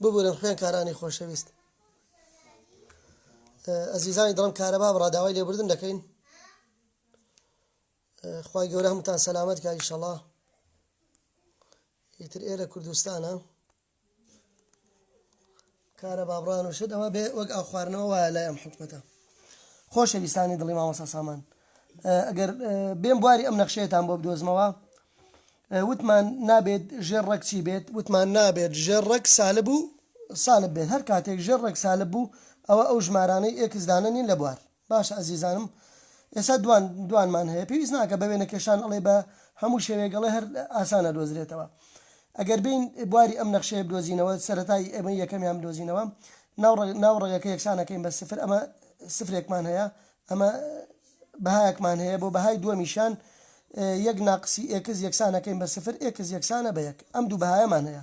ببورن خوێنکارانی خۆشەویست ئەزیزانی دڵم کارەبا بڕا داوای لێبوردن دەکەین خی گەورە هەمتان سەلامەت کاری شەڵا ئیتر ئێرە کوردستانە کارەبا بڕان و شت ئەوە بێ وەک ئاو خواردنەوە وایە لای ئەم حکومەتە خۆشەویستانی دڵی مامۆستا سامان ئەگەر بێم بواری ئەم نەخشەیەتان بۆ بدۆزمەوە وتمان نابێت ژێر ڕەک چی بێت وتمان نابێت ژێر ڕەک سالب و سالب بێت هەر کاتێک ژێر ڕەک سالب بوو ئەوە ئەو ژمارانەی ئێکسدانە نین لە بوار باشە ئەزیزانم ئێسا دوان دوانمان هەیە پێویست ناکە بە وێنە کێشان ئەڵێ بە هەموو شێوەیەک ئەڵێ هەر ئاسان ئەدۆزرێتەوە ئەگەر بێین بواری ئەم نەخشەیە بدۆزینەوە سەرەتای ئێمە یەکەمیان بدۆزینەوە ناو ڕەگ ناو ڕەگەکە یەکسان ئەکەین بە سفر ئەمە سفرێکمان هەیە ئەمە بەهایەکمان هەیە بۆ بەهای دووەمیشیان یەک ناقسی ئێکس یەکسان ئەکەین بە سفر ئێکس یەکسانە بە یەک ئەم دوو بەهایەمان هەیە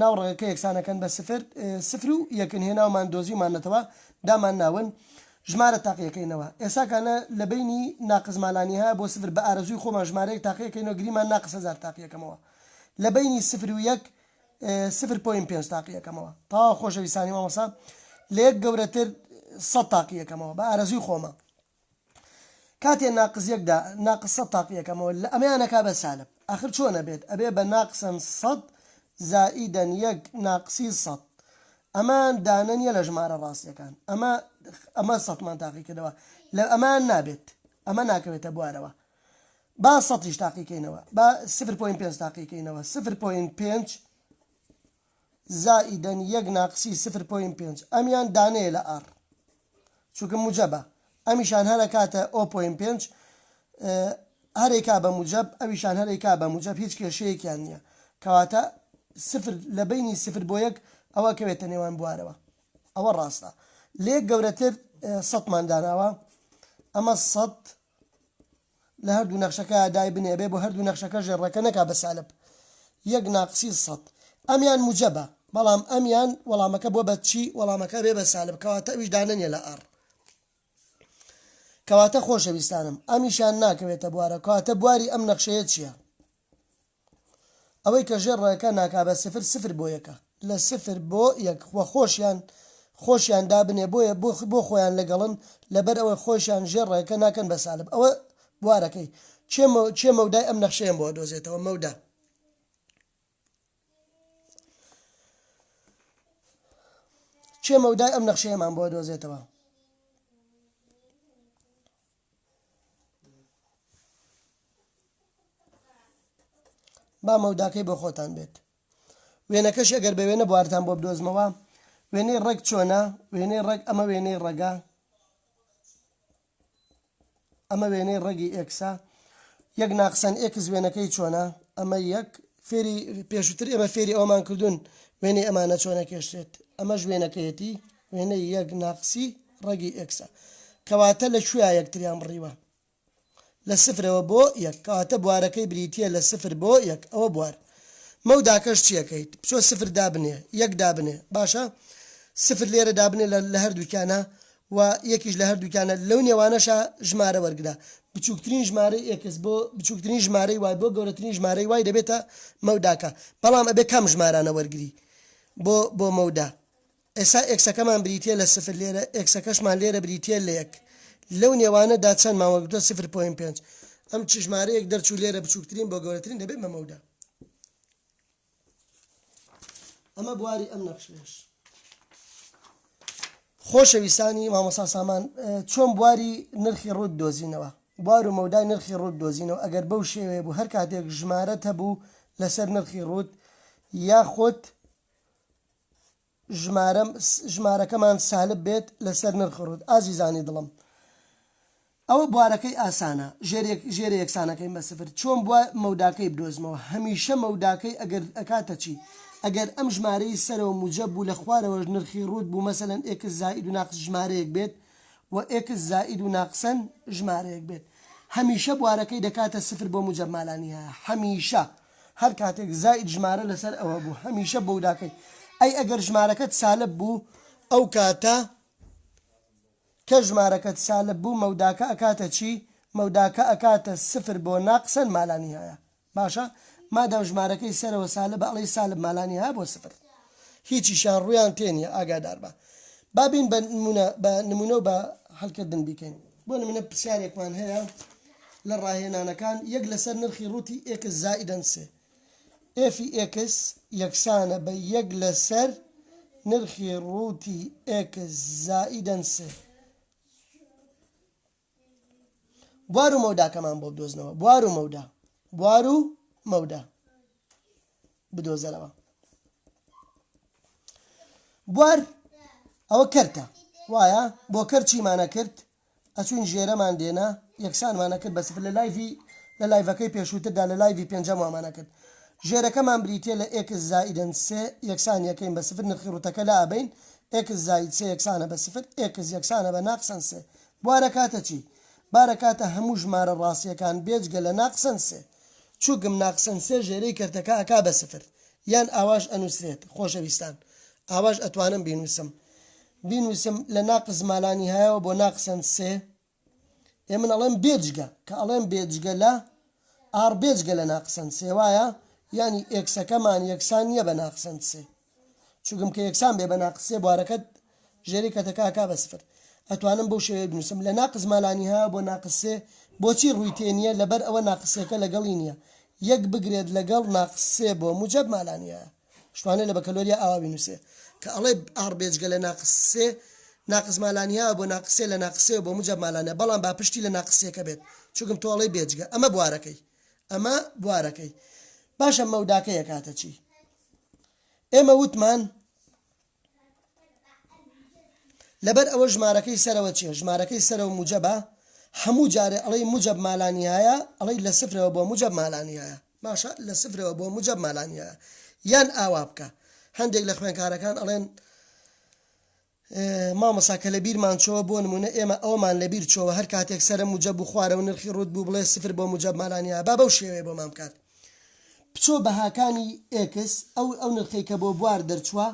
ناو ڕەگەکە یەکسانەکەن بە سفر، سفر و یەکن هێناومان دۆزیوماننەتەوە دامان ناون ژمارە تاقیەکەینەوە ئێساکانە لە بەینی ناقس مالانیهایە بۆ سفر بە ئارەزووی خۆمان ژمارەیەک تاقیەکەینەوە گریمان ناقس هەزار تاقیەکەمەوە لە بەینی سفر و یەک سفر پۆینت پێنج تاقیەکەمەوە تەواو خۆشەویستانی مامۆسا لە یەک گەورەتر سەد تاقیەکەمەوە بە ئارەزووی خۆما. کاتێ ناقس یەک دا ناقس سەد تاقی یەکەمەوە لە ئەمەیان ئەکا بە سالب ئەخر چۆن ئەبێت ئەبێ بە ناقسەن سەد زائیدەن یەک ناقسی سەد ئەمان دانە نیە لە ژمارە ڕاستیەکان ئەمە ئەمە سەدمان تاقی کردەوە لە ئەمان نابێت ئەمە ناکەوێتە بوارەوە با سەدیش تاقی کەینەوە با سفر پۆین پێنج تاقی کەینەوە سفر پۆین پێنج زائیدەن یەک ناقسی سفر پۆینت پێنج، ئەمیان دانەیە لە ئاڕ چونکە موجەبە، ئەمیشان هەر ئەکاتە ئۆ پۆینت پێنج، هەر ئەیکا بە موجەب، ئەویشان هەر ئەیکا بە موجەب، هیچ کێشەیەکیان نییە. کەواتە سفر لە بەینی سفر بۆ یەک ئەوە ئەکەوێتە نێوان بوارەوە. ئەوە ڕاستە. لە یەک گەورەتر سەدمان داناوە. ئەمە سەد. لە هەردوو نەخشەکە دایبنێ ئەبێ بۆ هەردوو نەخشەکە ژێرڕەکە نەکا بە سالب یەک ناقسی سەد ئەمیان موجەبە بەڵام ئەمیان وەڵامەکە بۆ بە چی وەڵامەکە بێ بە سالب کەواتە ئەویش دانەنیە لە ئەڕ کەواتە خۆشەویستانم ئەمیشان ناکەوێتە بوارە کەواتە بواری ئەم نەخشەیە چییە؟ ئەوەی کە ژێر ڕێکە ناکا بە سفر سفر بۆ یەکە. لە سفر بۆ یەک وە خۆشیان خۆشیان دابنێ بۆیە بۆ خۆیان لەگەڵن لەبەر ئەوەی خۆیشان ژێر ڕێکە ناکەن بە سالب ئەوە بوارەکەی کێ کێ مەودای ئەم نەخشەیەم بۆ ئەدۆزێتەوە مەودا کێ مەودای ئەم نەخشەیەمان بۆ ئەدۆزێتەوە. با مەوداکەی بۆ خۆتان بێت وێنەکەش ئەگەر بە وێنە بوارتان بۆ بدۆزمەوە وێنەی ڕێک چۆنە وێنەی ڕێک ئەمە وێنەی ڕێگا ئەمە وێنەی ڕێگی ئێکسا یەک ناقسەن ئێکس وێنەکەی چۆنە ئەمە یەک فێری پێشووتر ئێمە فێری ئەومان کردوون وێنەی ئەمانە چۆنە کێشێت ئەمەش وێنەکەیەتی وێنەی یەک ناقسی ڕەگی ئێکسە کەواتە لە کوێیا یەکتریان بڕیوە؟ لە سفرەوە بۆ یەک کەواتە بوارەکەی بریتیە لە سفر بۆ یەک ئەوە بوار مەوداکەش چیەکەیت بچۆ سفر دابنێ یەک دابنێ باشە سفر لێرە دابنێ لە لە هەردووکیانە و یەکیش لە هەردووکیانە لەو نێوانەشا ژمارە وەرگرە بچوکترین ژمارەی ئێکس بۆ بچوکترین ژمارەی وای بۆ گەورەترین ژمارەی وای دەبێتە مەوداکە بەڵام ئەبێ کام ژمارانە وەرگری بۆ بۆ مەودا ئێستا ئێکسەکەمان بریتییە لە سفر لێرە، ئێکسەکەشمان لێرە بریتییە لە یەک. لەو نێوانە دا چەندمان وەرگرتووە؟ سفر پۆینت پێنج. ئەم چ ژمارەیەک دەرچوو لێرە بچووکترین بۆ گەورەترین دەبێت بە مەودا. ئەمە بواری ئەم نەخشەیەش. خۆشەویستانی مامۆسا سامان چۆن بواری نرخی ڕووت دۆزینەوە بوار و مەودای نرخی ڕووت دۆزینەوە ئەگەر بەو شێوەیە بوو هەر کاتێک ژمارە هەبوو لەسەر نرخی ڕووت یاخود ژمارەم ژمارەکەمان سالب بێت لەسەر نرخ ڕووت ئازیزانی دڵم ئەوە بوارەکەی ئاسانە ژێر ژێرە یەکسانەکەین بە سفر چۆن بووە مەوداکەی بدۆزمەوە هەمیشە مەوداکەی ئەگەر ئەکاتە چی ئەگەر ئەم ژمارەی سەرەوە موجەب بوو لە خوارەوەش نرخی ڕووت بوو مەسەلەن ئێکس زائید و ناقس ژمارەیەک بێت و ئێکس زائید و ناقسەن ژمارەیەک بێت هەمیشە بوارەکەی دەکاتە سفر بۆ موجەب مالانیهایە هەمیشە هەر کاتێک زائید ژمارە لەسەر ئەوە بوو هەمیشە بۆو داکەی ئەی ئەگەر ژمارەکەت سالب بوو ئەو کاتە کە ژمارەکەت سالب بوو مەوداکە ئەکاتە چی مەوداکە ئەکاتە سفر بۆ ناقسەن مالانی هەیە باشە مادام ژمارەکەی سەرەوە سالب ئەڵی سالب مالانی هەیە بۆ سفر هیچیشیان ڕویان تێنیە ئاگادار بە بابین بە نمونە بە نمونە و بە هەلکردن بیکەین بۆ نموونە پرسیارێکمان هەیە لە ڕاهێنانەکان، یەک لەسەر نرخی ڕووتی ئێکس زائیدەن سێ. ئێفی ئێکس یەکسانە بە یەک لەسەر نرخی ڕووتی ئێکس زائیدەن سێ. بوار و مەوداکەمان بۆ بدۆزنەوە. بوار و مەودا. بوار و مەودا. بدۆزەرەوە بوار ئەوە کەرتە وایە بۆ کەر چیمانە کرد ئەچوین ژێرەمان دێنا یەکسانمانە کرد بەس لە لایڤی لە لایڤەکەی پێشووتردا لە لایڤی پێنجەم وامانە کرد ژێرەکەمان بریتە لە ئێکس زائیدن سێ یەکسان یەکەین بە سفر نرخی ڕوتەکە لە ئابین ئێکس زاید سێ یەکسانە بە سفر ئێکس یەکسانە بە ناقسەن سێ بوارە کاتە چی بارە کاتە هەموو ژمارە ڕاستیەکان بێجگە لە ناقسەن سێ چوکم ناقسن سێ ژێرەی کەرتەکە ئەکا بە سفر یان ئاواش ئەنوسرێت خۆشەویستان ئاواش ئەتوانم بینوسم بینوسم لە ناقس مالانیهایەوە بۆ ناقسن سێ ئێ من ئەڵێم بێجگە کە ئەڵێم بێجگە لە ئاڕ بێجگە لە ناقسن سێ وایە یانی ئێکسەکەمان یەکسان نییە بە ناقسن سێ چوگم کە یەکسان بێ بە ناقس سێ بوارەکەت ژێری کەتە کا کا بە سفر ئەتوانم بەو شێوەیە بنوسم لە ناقس ما لا نهایە بۆ ناقس سێ بۆچی ڕوی تێ نیە لەبەر ئەوە ناقس سێکە لەگەڵی نیە یەک بگرێت لەگەڵ ناقس سێ بۆ موجەب ما لا نهایە شتوانێ لە بەکەلۆریا ئاوا بینوسێ کە ئەڵێ ئاڕ بێجگە لە ناقس سێ ناقس ما لا نهایە بۆ ناقس سێ لە ناقس سێ بۆ موجەب ما لا نهایە بەڵام با پشتی لە ناقس سێکە بێت چوگم تۆ ئەڵێی بێجگە ئەمە بوارەکەی ئەمە بوارەکەی باشە مەوداکەی ئەکاتە چی؟ ئێمە وتمان لەبەر ئەوە ژمارەکەی سەرەوە چیە ژمارەکەی سەرەوە موجەبە هەموو جارێ ئەڵەی موجەب مالانیایە ئەڵەی لە سفرەوە بۆ موجەب مالانیایە باشە لە سفرەوە بۆ موجەب مالانیایە یان ئاوا بکە هەندێک لە خوێنکارەکان ئەڵێن مامۆسا کە لە بیرمان چۆوە بۆ نموونە ئێمە ئەوەمان لە بیر چۆوە هەر کاتێک سەرە موجەب و خوارە و نرخی ڕووت بوو بڵێ سفر بۆ موجەب مانانیا با بەو شێوەیە بۆمان بکات بچۆ بەهاکانی ئێکس ئەو ئەو نرخەی کە بۆ بوار دەرچووە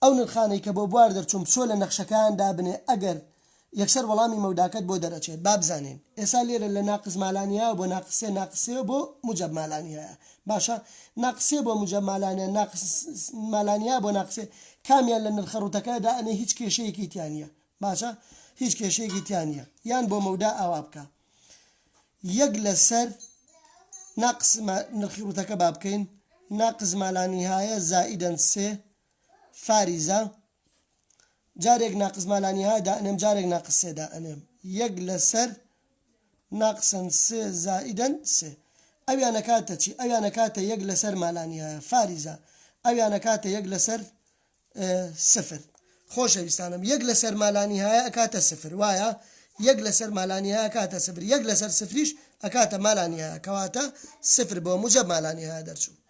ئەو نرخانەی کە بۆ بوار دەرچوون بچۆ لە نەخشەکان دابنێ ئەگەر یەکسەر وەڵامی مەوداکەت بۆ دەرئەچێت با بزانین ئێسا لێرە لە ناقس مالانیهایە بۆ ناقس سێ ناقس سێ بۆ موجەب مالانیهایە باشە ناقس سێ بۆ موجەب مالانیە ناقس مالانیهایە بۆ ناقس سێ کامیان لە نرخە ڕووتەکە دا ئەنێ هیچ کێشەیەکی تیا نیە باشە هیچ کێشەیەکی تیا نیە یان بۆ مەودا ئاوا بکە یەک لەسەر ناقس نرخی ڕووتەکە با بکەین ناقس مالانیهایە زائیدەن سێ فاریزە جارێک ناقس ما لا نیهایە دائەنێم جارێک ناقس سێ دائەنێم یەک لەسەر ناقسا سێ زائیدا سێ ئەویان ئەکاتە چی ئەویان ئەکاتە یەک لەسەر ما لا نیهایە فاریزە ئەویان ئەکاتە یەک لەسەر سفر خۆشەویستانم یەک لەسەر ما لا نیهایە ئەکاتە سفر وایە یەک لەسەر ما لا نیهایە ئەکاتە سفر یەک لەسەر سفریش ئەکاتە ما لا نیهایە کەواتە سفر بۆ موجەب ما لا نیهایە دەرچوو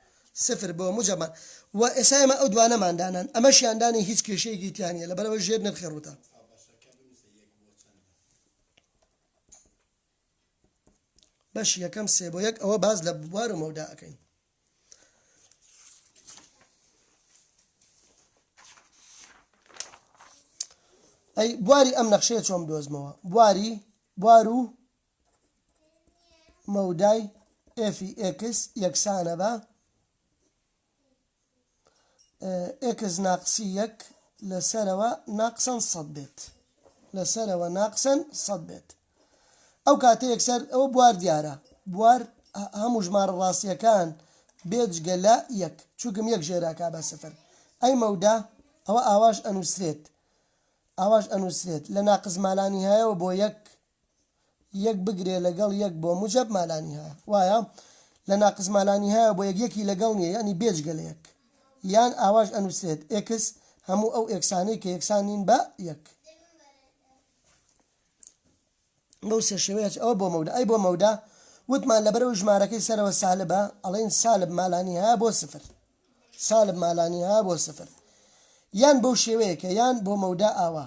سفر بۆ مجەمەع وە ئێسا ئێمە ئەو دوانەمان دانان ئەمەشیان دانی هیچ کێشەیەکی تیا نیە لەبەرەوە ژێر نرخی ڕووتە بەش یەکەم سێ بۆ یەک ئەوە باز لە بوار و مەودا ئەەکەین ئەی بواری ئەم نەخشەیە چۆم دۆزمەوە بواری بوار و مەودای ئێفی ئێکس یەکسانە بە ئێکس ناقسی یەک لەسەرەوە ناقسەن سەد بێت لەسەرەوە ناقسەن سەد بێت ئەو کاتە یەکسەر ئەوە بوار دیارە بوار هەموو ژمارە ڕاستیەکان بێجگە لە یەک چووکم یەک ژێراکە بە سفر ئەی مەودا ئەوە ئاواش ئەنووسرێت ئاواش ئەنووسرێت لە ناقزمالانی هەیەەوە بۆ یەک یەک بگرێ لەگەڵ یەک بۆ موجەب مالانیهایە وایە لە ناقس مالانیهایە بۆ یەک یەکی لەگەڵ نیە یانی بێجگە لە یەک یان ئاواش ئەنووسرێت ئێکس هەموو ئەو ئێکسانەی کە یەکسان نین بە یەک بەو سێ شێوەیەش ئەوە بۆ مەودا ئەی بۆ مەودا وتمان لەبەرەوە ژمارەکەی سەرەوە سالبە ئەڵین سالب مالانی ها بۆ سفر سالب مالانی ها بۆ سفر یان بەو شێوەیەکە یان بۆ مەودا ئاوا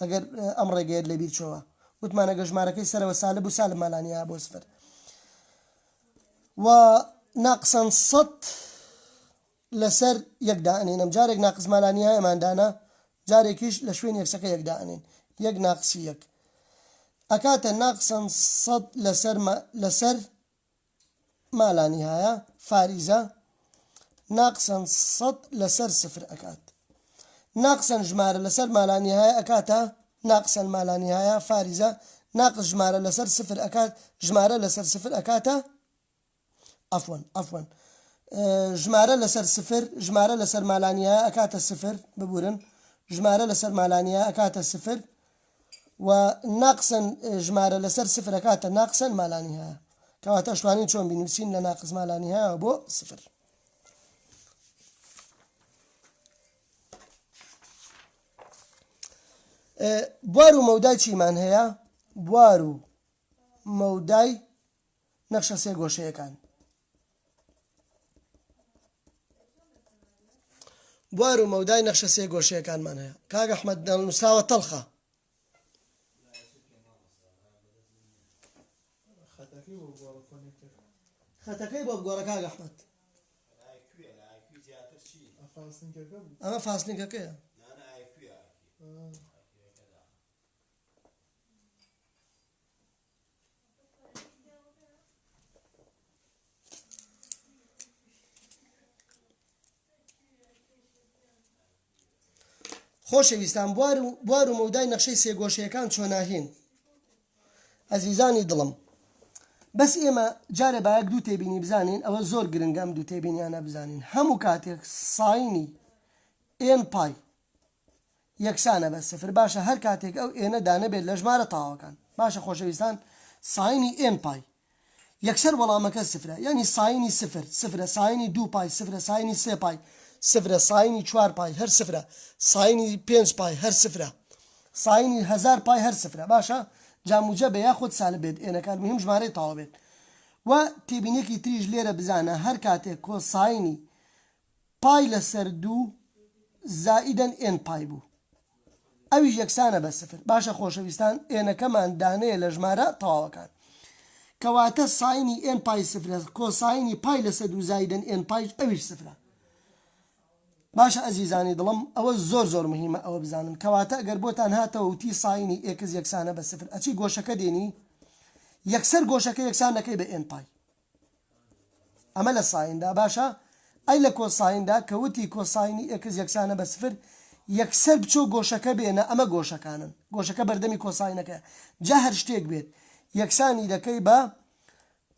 ئەگەر ئەم ڕێگەیەت لەبیر چۆوە وتمان ئەگەر ژمارەکەی سەرەوە سالب بوو سالب مالانیە بۆ سفر و ناقسا سەد لەسەر یەک دائەنینم جارێک ناقس مالانیایەمان دانا جارێکیش لە شوێن یەکسەکە یەک دائەنین یەک ناقسی یەک ئەکاتە ناقسا سەد لەسەر لەسەر مالانیهایە فاریزە ناقسەن سەد لەسەر سفر ئەکات ناقسەن ژمارە لەسەر مالانیهایە ئەکاتە ناقسەن مالانیهایە فاریزە ناقس ژمارە لەسەر سفر ئەکات ژمارە لەسەر سفر ئەکاتە ئەفۆن ئەفۆن ژمارە لەسەر سفر ژمارە لەسەر مالانیە ئەکاتە سفر ببورن ژمارە لەسەر مالانیە ئەکاتە سفر و ناقسەن ژمارە لەسەر سفر ئەکاتە ناقسەن ما لا نهایە کەواتە ئەشتوانین چۆن بینووسین لە ناقس ما لا نهایەوە بۆ سفر بوار و مەودای چیمان هەیە بوار و مەودای نەخشە سێ گۆشەیەکان بوار و مەودای نەخشە سێ گۆشەیەکانمان هەیە کاک ئەحمەد نووسراوە تەڵخە خەتەکەی بۆ بگۆڕە کاک ئەحمەد ئەمە فاسنینگەکەیە خۆشەویستان بوار و بوار و مەودای نەخشەی سێگۆشەکان چۆناهێن ئەزیزانی دڵم بەس ئێمە جارە باەک دوو تێبینی بزانین ئەوە زۆر گرنگەم دوو تێبینیانە بزانین هەموو کاتێک ساینی ئێم پای یەکسانە بە سفر باشە هەر کاتێک ئەو ئێنە دانەبێت لە ژمارە تاواکان باشە خۆشەویستان ساینی ئێن پای یەکسەر وەڵامەکە سفرە یانی ساینی سفر سفرە ساینی دوو پای سفرە ساینی سێ پای سفرە ساینی چوار پای هەر سفرە ساینی پێنج پای هەر سفرە ساینی هەزار پای هەر سفرە باشە جا موجە بێ یاخود سالب بێت ئێنەکە المهم ژمارەی تاوا بێت و تێبینێکی تریش لێرە بزانە هەر کاتێک کۆساینی پای لەسەر دوو زائیدەن ئێن پای بوو ئەویش یەکسانە بە سفر باشە خۆشەویستان ئێنەکەمان دانەیە لە ژمارە تەواوەکان کەواتە ساینی ئێن پای سفرە کۆساینی پای لەسەر دوو زایدەن ئێن پایش ئەویش سفرە باشە ئەزیزانی دڵم ئەوە زۆر زۆر مهمە ئەوە بزانن کەواتە ئەگەر بۆتان هاتەوە وتی ساینی ئێکس یەکسانە بە سفر ئەچی گۆشەکە دێنی یەکسەر گۆشەکە یەکسان دەکەی بە ئێن پای ئەمە لە سایندا باشە ئەی لە کۆسایندا کە وتی کۆساینی ئێکس یەکسانە بە سفر یەکسەر بچۆ گۆشەکە بێنە ئەمە گۆشەکانن گۆشەکە بەردەمی کۆساینەکەیە جا هەر شتێک بێت یەکسانی دەکەی بە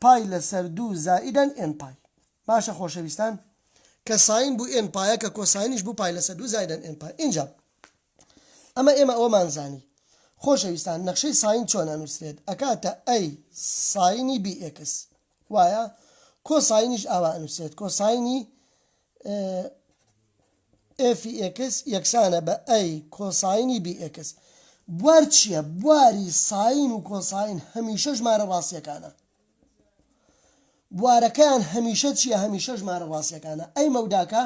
پای لەسەر دوو زائیدەن ئێن پای باشە خۆشەویستان کە ساین بوو ئێن پایە کە کۆساینیش بوو پای لەسەر دوو زائیدەن ئێن پای ئینجا ئەمە ئێمە ئەوەمان زانی. خۆشەویستان نەخشەی ساین چۆن ئەنوسرێت ئەکاتە ئەی ساینی بی ئێکس وایە کۆ ساینیش ئاوا ئەنوسرێت کۆ ساینی ئێفی ئێکس یەکسانە بە ئەی کۆ ساینی بی ئێکس بوار چییە بواری ساین و کۆ ساین هەمیشە ژمارە ڕاستیەکانە بوارەکەیان هەمیشە چیە هەمیشە ژمارە ڕاستیەکانە ئەی مەوداکە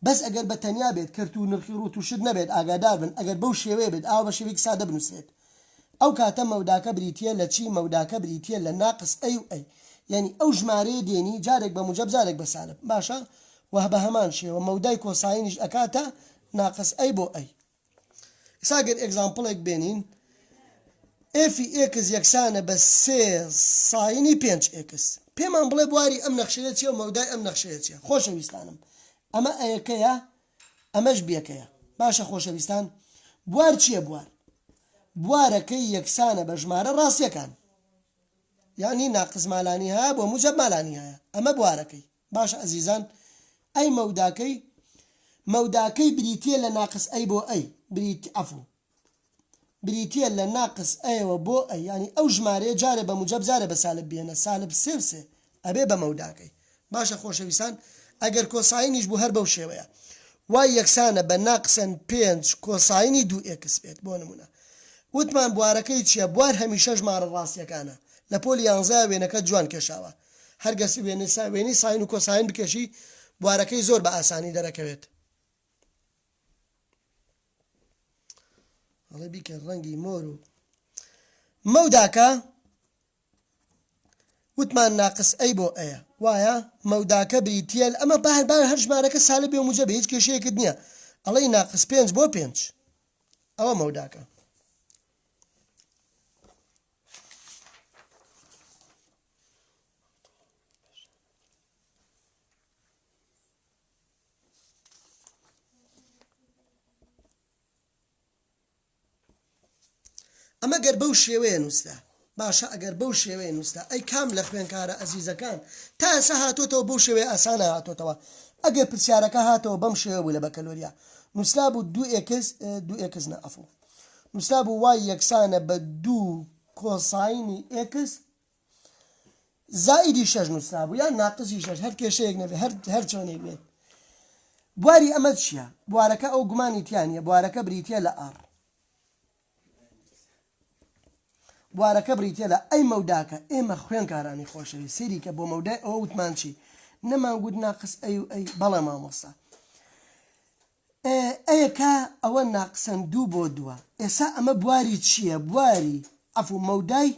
بەس ئەگەر بە تەنیا بێت کەرت و نرخی ڕوت و شت نەبێت ئاگادار بن ئەگەر بەو شێوەیە بێت ئاوا بە شێوەیەکی سادە بنوسرێت ئەو کاتە مەوداکە بریتیە لە چی مەوداکە بریتیە لە ناقس ئەی و ئەی یەنی ئەو ژمارەیە دێنی جارێک بە موجەب جارێک بە سالب باشە وە بە هەمان شێوە مەودای کۆساینیش ئەکاتە ناقس ئەی بۆ ئەی. ئسا گەر ئێگزامپڵێک بێنین ئێفی ئێکس یەکسانە بە سێ ساینی پێنج ئێکس پێمان بڵێ بواری ئەم نەخشەیە چیە و مەودای ئەم نەخشەیە چیە خۆشەویستانم ئەمە ئەیەکەیە ئەمەش بیەکەیە باشە خۆشەویستان بوار چییە بوار بوارەکەی یەکسانە بە ژمارە ڕاستیەکان یعنی ناقز مالانی هەیە بۆ موجب مالانی هەیە ئەمە بوارەکەی باش ئەزیزان ئەی مەوداکەی مەوداکەی بریتیە لە ناقس ئەی بۆ ئەی بریت عەفو بریتیە لە ناقس ئەیەوە بۆ ئەی یانی ئەو ژمارەیە جارێ بە موجەب جارێ بە سالب بێنە سالب سێ و سێ ئەبێ بە مەوداکەی باشە خۆشەویستان ئەگەر کۆساینیش بوو هەر بەو شێوەیە وای یەکسانە بە ناقسەن پێنج کۆساینی دوو ئێکس بێت بۆ نمونە وتمان بوارەکەی چییە بوار هەمیشە ژمارە ڕاستیەکانە لە پۆلی یانزەیا وێنەکەت جوان کێشاوە هەر گەس وێنەی سا وێنەی ساین و کۆساین بکێشی بوارەکەی زۆر بە ئاسانی دەرەکەوێت. ئەڵێ بیکە ڕەنگی مۆر و مەوداکە وتمان ناقس ئەی بۆ ئەیە وایە مەوداکە بریتە ئەمە بار بار هەر ژمارەکە سالە بێ موجە بە هیچ کێشەیەکت نییە ئەڵی ناقس پێنج بۆ پێنج ئەوە مەوداکە ئەمە گەر بەو شێوەیە نووسرا باشە ئەگەر بەو شێوەیە نووسرا ئەی کام لە خوێنکارە ئەزیزەکان تا ئێسا هاتۆتەوە بەو شێوەیە ئاسانە هاتۆتەوە ئەگەر پرسیارەکە هاتەوە بەم شێوە بوو لە بەکەلۆریا نووسرا بوو دو ئێکس دو ئێکس نە ئەفڵ نووسرا بوو وای یەکسانە بە دوو کۆساینی ئێکس زائیدی شەش نووسرابوو یان ناقسی شەش هەر کێشەیەک نەبێ هەر هەر چۆنێک بێت بواری ئەمە چییە بوارەکە ئەو گومانی تیانە بوارەکە بریتە لە ئاڕ بوارەکە بریتە لە ئەی مەوداکە ئێمە خوێنکارانی خۆشەوی سێری کە بۆ مەودای ئەوە وتمانچی نەمانگووت ناقس ئەی و ئەی بەڵێ مامۆستا ئە یە کا ئەوە ناقسەن دوو بۆ دووە ئێسا ئەمە بواری چیە بواری عەفو مەودای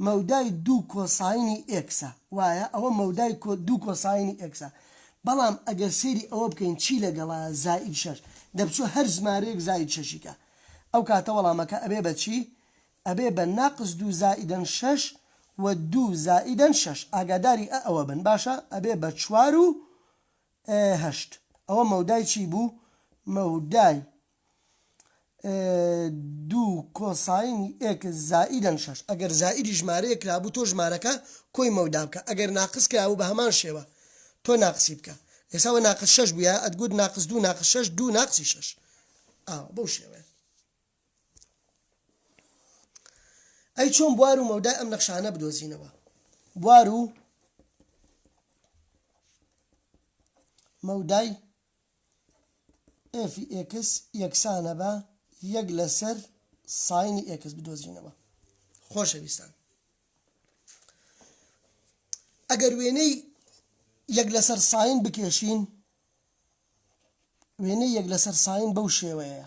مەودای دوو کۆساینی ئێکسە وایە ئەوە مەودای دوو کۆساینی ئێکسە بەڵام ئەگەر سەیری ئەوە بکەین چی لەگەڵە زائید شەش دەبچوو هەر زمارەیەک زائید شەشیکە ئەو کاتە وەڵامەکە ئەبێ بە چی ئەبێ بە ناقس دوو زائیدەن شەش و دوو زائیدەن شەش ئاگاداری ئە ئەوە بن باشە ئەبێ بە چوار و ئێ هەشت ئەوە مەودای چی بوو؟ مەودای دوو کۆساینی ئێکس زائیدەن شەش. ئەگەر زائیدی ژمارەیەک کرابوو تۆ ژمارەکە کۆی مەودا بکە ئەگەر ناقس کرابوو بە هەمان شێوە تۆ ناقسی بکە ئێستا وە ناقس شەش بوویایە ئەتگوت ناقس دوو ناقس شەش دوو ناقسی شەش ئاوا بەو شێوەیە. ئەی چۆن بوار و مەودای ئەم نەخشانە بدۆزینەوە بوار و مەودای ئێفی ئێکس یەکسانە بە یەک لەسەر ساینی ئێکس بدۆزینەوە خۆشەویستان ئەگەر وێنەی یەک لەسەر ساین بکێشین وێنەی یەک لەسەر ساین بەو شێوەیە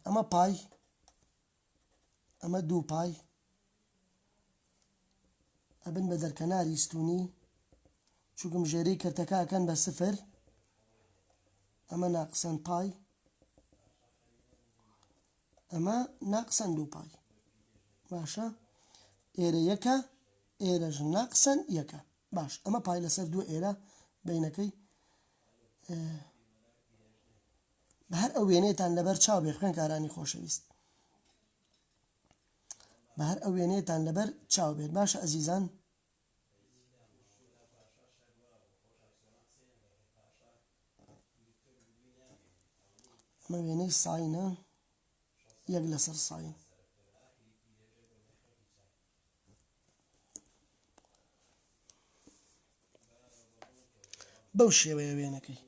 ئەمە پای ئەمە دوو پای ئەبن بە دەرکەناری ستونی چووکم ژێری کردەکەکەن بە سفر ئەمە ناقسەن پای ئەمە ناقسەن دووپای. باشە ئێرە یەکە ئێرەش ناقسەن یەکە باش ئەمە پای لەسەر دوو ئێرە بینەکەی بە هەر ئەو وێنێتان لەبەر چاو بێ خوێنکارانی خۆشەویست بە هەر ئەو وێنێتان لەبەر چاو بێت باشە ئەزیزان ئەمە وێنەی ساینە یەک لەسەر ساین بەو شێوەیە وێنەکەی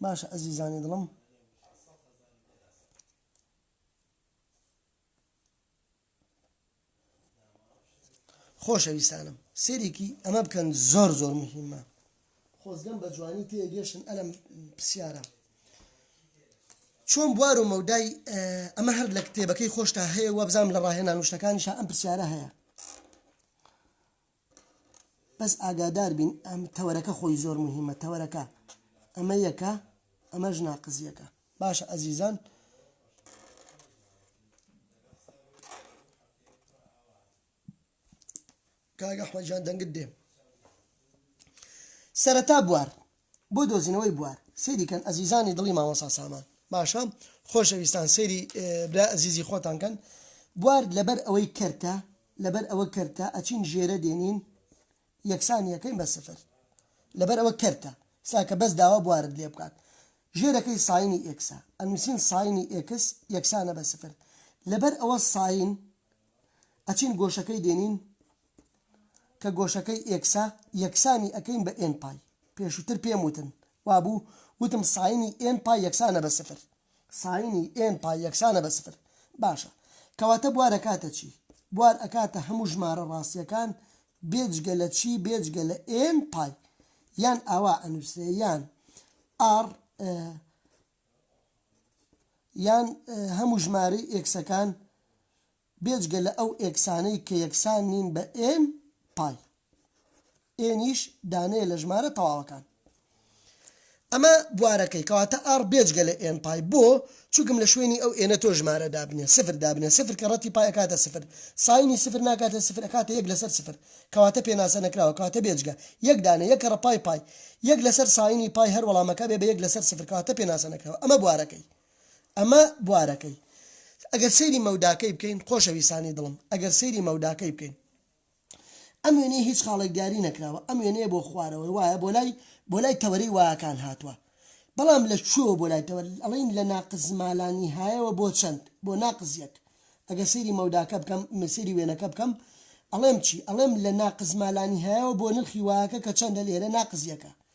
باشە ئەزیزانی دڵم خۆشەویستانم سێرێکی ئەمە بکەن زۆر زۆر مهمە خۆزگەم بە جوانی تێگەشتن ئەلم پرسیارە چۆن بوار و مەودای ئەمە هەر لە کتێبەکەی خۆشتا هەیە وابزانام لە ڕاهێنان وشتەکانیشا ئەم پرسیارە هەیە بەس ئاگادار بین ئەم تەوەرەکە خۆی زۆر مهمە تەوەرەکە ئەمە یەکە ئەمەش ناقز یەکە باشە ئەزیزان کاگە حمەجان دەنگت دێ سەرەتا بوار بۆ دۆزینەوەی بوار. سەیری کەن ئەزیزانی دڵی مامۆستا سامان. باشە خۆشەویستان سەیری برای ئەزیزی خۆتان کەن. بوار لەبەر ئەوەی کەرتە لەبەر ئەوە کەرتە ئەچین ژێرە دێنین یەکسانی ئەکەین بە سفر لەبەر ئەوە کەرتە سا کە بەس داوا بوارت لێ بکات ژێرەکەی ساینی ئێکسە ئەنووسین ساینی ئێکس یەکسانە بە سفر لەبەر ئەوە ساین ئەچین گۆشەکەی دێنین کە گۆشەکەی ئێکسە یەکسانی ئەکەین بە ئێن پای پێشوتر پێم وتن وابوو وتم ساینی ئێن پای یەکسانە بە سفر ساینی ئێن پای یەکسانە بە سفر باشە کەواتە بوار ئەکاتە چی بوار ئەکاتە هەموو ژمارە ڕاستیەکان بێجگە لە چی بێجگە لە ئێن پای یان ئاوا ئەنوسرێ یان ئاڕ یان هەموو ژمارەی ئێکسەکان بێجگە لە ئەو ئێکسانەی کە یەکسان نین بە ئێن پای ئێنیش دانەیە لە ژمارە تەواوەکان. ئەمە بوارەکەی، کەواتە ئاڕ بێجگە لە ئێن پای. بۆ؟ چونکم لە شوێنی ئەو ئێنە تۆ ژمارە دابنێ، سفر دابنێ، سفر کە ڕەتی پای ئەکاتە سفر، ساینی سفر ناکاتە سفر ئەکاتە یەک لەسەر سفر، کەواتە پێناسە نەکراوە، کەواتە بێجگە. یەک دانە، یەک کەڕەپای پای یەک لەسەر ساینی پای هەر وەڵامەکە بێ بە یەک لەسەر سفر، کەواتە پێناسە نەکراوە. ئەمە بوارەکەی. ئەمە بوارەکەی. ئەگەر سەیری مەوداکەی بکەین، خۆشەویستانی دڵم، ئەگەر سەیری مەوداکەی بکەین. ئەم وێنەیە هیچ خاڵێک دیاری نەکراوە، ئەم وێنەیە بۆ خوارەوە وایە، بۆ لای، بۆ لای تەوەرەی وایەکان هاتووە. بەڵام لە کوێوە بۆ لای تەوەر؟ ئەڵێین لە ناقص ما لا نهایەوە بۆ چەند؟ بۆ ناقص یەک. ئەگەر سەیری مەوداکە بکەم، سەیری وێنەکە بکەم، ئەڵێم چی؟ ئەڵێم لە ناقص ما لا نهایەوە بۆ نرخی وایەکە کە چەندە لێرە؟ ناقص یەکە.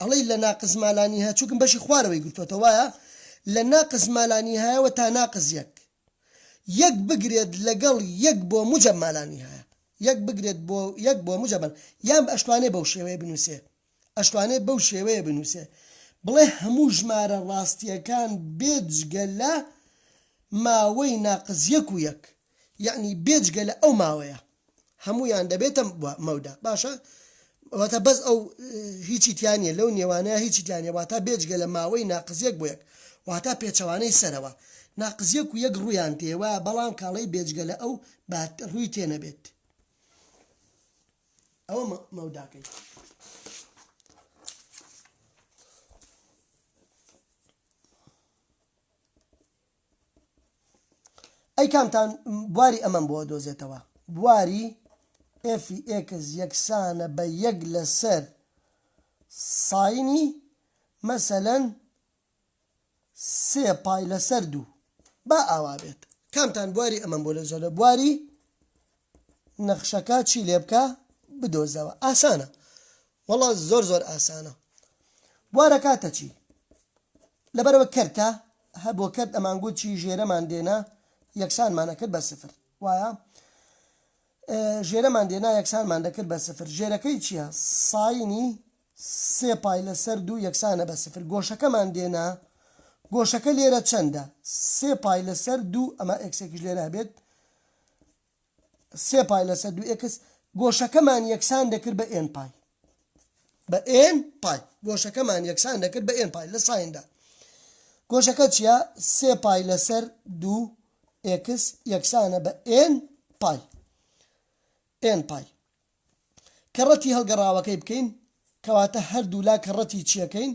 ئەڵێی لە ناقس ما لا نیهە چونکم بەشی خوارەوەی گرتۆتە وایە لە ناقس ما لا نیهایەوە تا ناقس یەک یەک بگرێت لەگەڵ یەک بۆ موجەب ما لا نیهایە یەک بگرێت بۆ یەک بۆ موجەبن یان ئەشتوانێ بەو شێوەیە بنووسێ ئەشتوانێ بەو شێوەیە بنووسێ بڵێ هەموو ژمارە ڕاستیەکان بێجگە لە ماوەی ناقس یەک و یەک یەعنی بێجگە لە ئەو ماوەیە هەموویان دەبێتە مەودا باشە واتە بەس ئەو هیچی تیا نیە لەو نێوانەیە هیچی تیانە واتا بێجگە لە ماوەی ناقزیەک بۆ یەک واتا پێچەوانەی سەرەوە ناقزیەک و یەک ڕویان تێوا بەڵام کاڵی بێجگە لە ئەو بات ڕووی تێنەبێت ئەوە مەوداکەی ئەی کامتان بواری ئەمەم بۆ دۆزێتەوە بواری ئێفی ئێکس یەکسانە بە یەک لەسەر ساینی مەسەلەن سێ پای لەسەر دوو با ئاوا بێت کامتان بواری ئەمەم بۆ لەزۆرە بواری نەخشەکە چی لێبکە بدۆزەوە ئاسانە وەڵا زۆر زۆر ئاسانە بوارە کاتە چی لەبەرەوە کەرتە هە بۆ کەرت ئەمانگووت چی ژێرەمان دێنا یەکسانمان ئەکرد بە سفر وایە ژێرەمان دێنا یەکسانمان دەکرد بە سفر ژێرەکەی چییە ساینی سێ پای لەسەر دوو یەکسانە بە سفر. گۆشەکەمان دێنا، گۆشەکە لێرە چەندە؟ سێ پای لەسەر دوو، ئەمە ئێکسێکیش لێرە هەبێت، سێ پای لەسەر دوو ئێکس، گۆشەکەمان یەکسان دەکرد بە ئێن پای. بە ئێن پای. گۆشەکەمان یەکسان دەکرد بە ئێن پای لە سایندا. گۆشەکە چییە؟ سێ پای لەسەر دوو ئێکس یەکسانە بە ئێن پای. ئێن پای. کەڕەتی هەڵگەڕاوەکەی بکەین، کەواتە هەردوولا کەڕەتی چیەکەین؟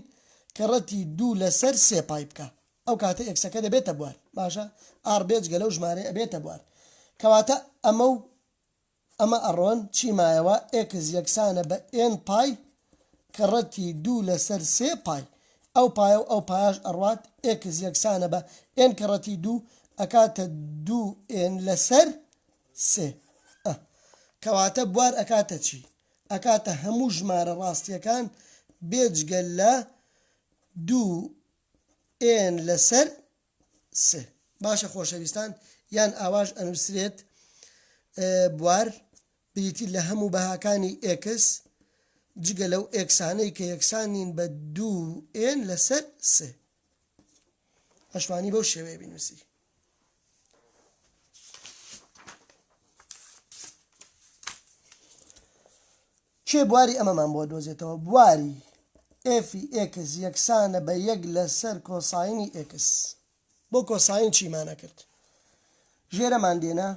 کەڕەتی دوو لەسەر سێ پای بکە، ئەو کاتە ئێکسەکە دەبێتە بوار، باشە ئاڕ بێجگە لەو ژمارەیە ئەبێتە بوار، کەواتە ئەمە و ئەمە ئەڕۆن، چی مایەوە؟ ئێکس یەکسانە بە ئێن پای کەڕەتی دوو لەسەر سێ پای، ئەو پایە و ئەو پایەش ئەڕوات، ئێکس یەکسانە بە ئێن کەڕەتی دوو ئەکاتە دوو ئێن لەسەر سێ ئە کەواتە بوار ئەکاتە چی؟ ئەکاتە هەموو ژمارە ڕاستیەکان بێجگە لە دوو ئێن لەسەر سێ باشە خۆشەویستان یان ئاواش ئەنووسرێت بوار بریتی لە هەموو بەهاکانی ئێکس جگە لەو ئێکسانەی کە یەکسانین بە دوو ئێن لەسەر سێ ئەشمانی بەو شێوەیە بینوسی کێ بواری ئەمەمان بۆ دۆزێتەوە بواری ئێفی ئێکس یەکسانە بە یەک لەسەر کۆساینی ئێکس بۆ کۆساین چیمانە کرد ژێرەمان دێنە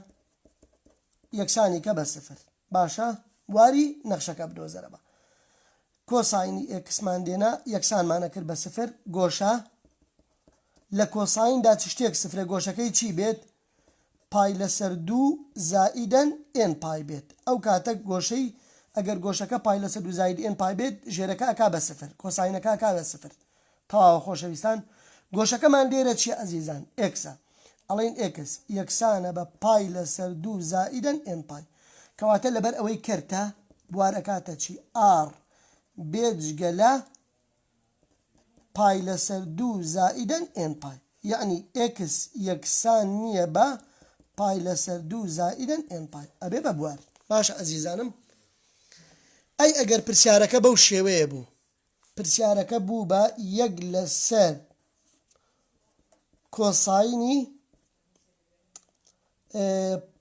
یەکسانی کە بە سفر باشە واری نەخشەکە بدۆزەرە بە کۆساینی ئێکسمان دێنا یەکسانمان ئەکرد بە سفر گۆشە لە کۆسایندا چ شتێک سفرە گۆشەکەی چی بێت پای لەسەر دوو زائیدەن ئێن پای بێت ئەو کاتە گۆشەی ئەگەر گۆشەکە پای لەسەر دوو زاید ئێن پای بێت ژێرەکە ئەکا بە سفر کۆساینەکە ئەکا بە سفر تەواوە خۆشەویستان گۆشەکەمان لێرە چیە ئەزیزان ئێکسە ئەڵێین ئێکس یەکسانە بە پای لەسەر دوو زائیدەن ئێن پای کەواتە لەبەر ئەوەی کەرتە بوار ئەکاتە چی ئاڕ بێجگە لە پای لەسەر دوو زائیدەن ئێن پای یەعنی ئێکس یەکسان نییە بە پای لەسەر دوو زائیدەن ئێن پای ئەبێ بە بوار باشە ئەزیزانم ئەی ئەگەر پرسیارەکە بەو شێوەیە بوو پرسیارەکە بوو بە یەک لەسەر کۆساینی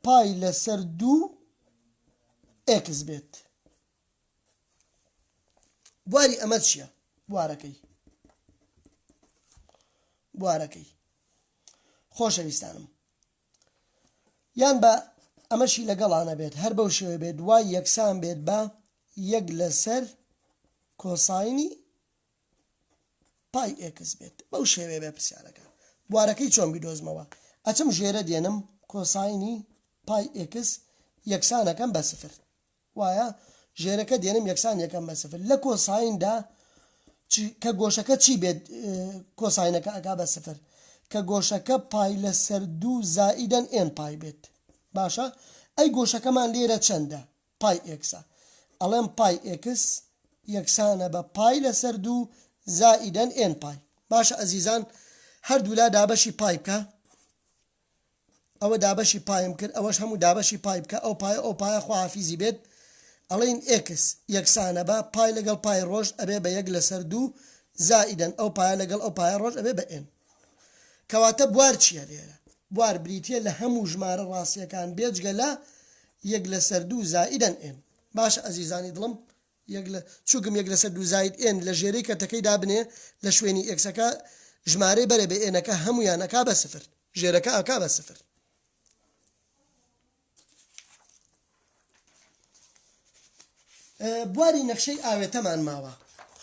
پای لەسەر دوو ئێکس بێت بواری ئەمە چییە بوارەکەی بوارەکەی خۆشەویستانم یان بە ئەمەشی لەگەڵا نەبێت هەر بەو شێوەیە بێت وای یەکسان بێت بە یەک لەسەر کۆساینی پای ئێکس بێت بەو شێوەیە بێ پرسیارەکە بوارەکەی چۆن بیدۆزمەوە ئەچم ژێرە دێنم کۆساینی پای ئێکس یەکسانەکەم بە سفر وایە ژێرەکە دێنم یەکسان یەکەم بە سفر لە کۆسایندا چ کە گۆشەکە چی بێت کۆساینەکە ئەکا بە سفر کە گۆشەکە پای لەسەر دوو زائیدەن ئێن پای بێت باشە ئەی گۆشەکەمان لێرە چەندە پای ئێکسە ئەڵێم پای ئێکس یەکسانە بە پای لەسەر دوو زائیدەن ئێن پای باشە ئەزیزان هەردوولا دابەشی پای بکە ئەوە دابەشی پایم کرد ئەوەش هەموو دابەشی پای بکە ئەو پایە ئەو پایە خواحافیزی بێت ئەڵێین ئێکس یەکسانە بە پای لەگەڵ پای ڕۆژ ئەبێ بە یەک لەسەر دوو زائیدەن ئەو پایە لەگەڵ ئەو پایە ڕۆژ ئەبێ بە ئێن کەواتە بوار چیە لێرە بوار بریتیە لە هەموو ژمارە ڕاستیەکان بێجگە لە یەک لەسەر دوو زائیدەن ئێن باشە ئەزیزانی دڵم یەک لە چوگم یەک لەسەر دوو زاید ئێن لە ژێرەی کەرتەکەی دابنێ لە شوێنی ئێکسەکە ژمارەی بەرە بێ ئێنەکە هەموویان ئەکا بە سفر ژێرەکە ئەکا بە سفر. بواری نەخشەی ئاوێتەمان ماوە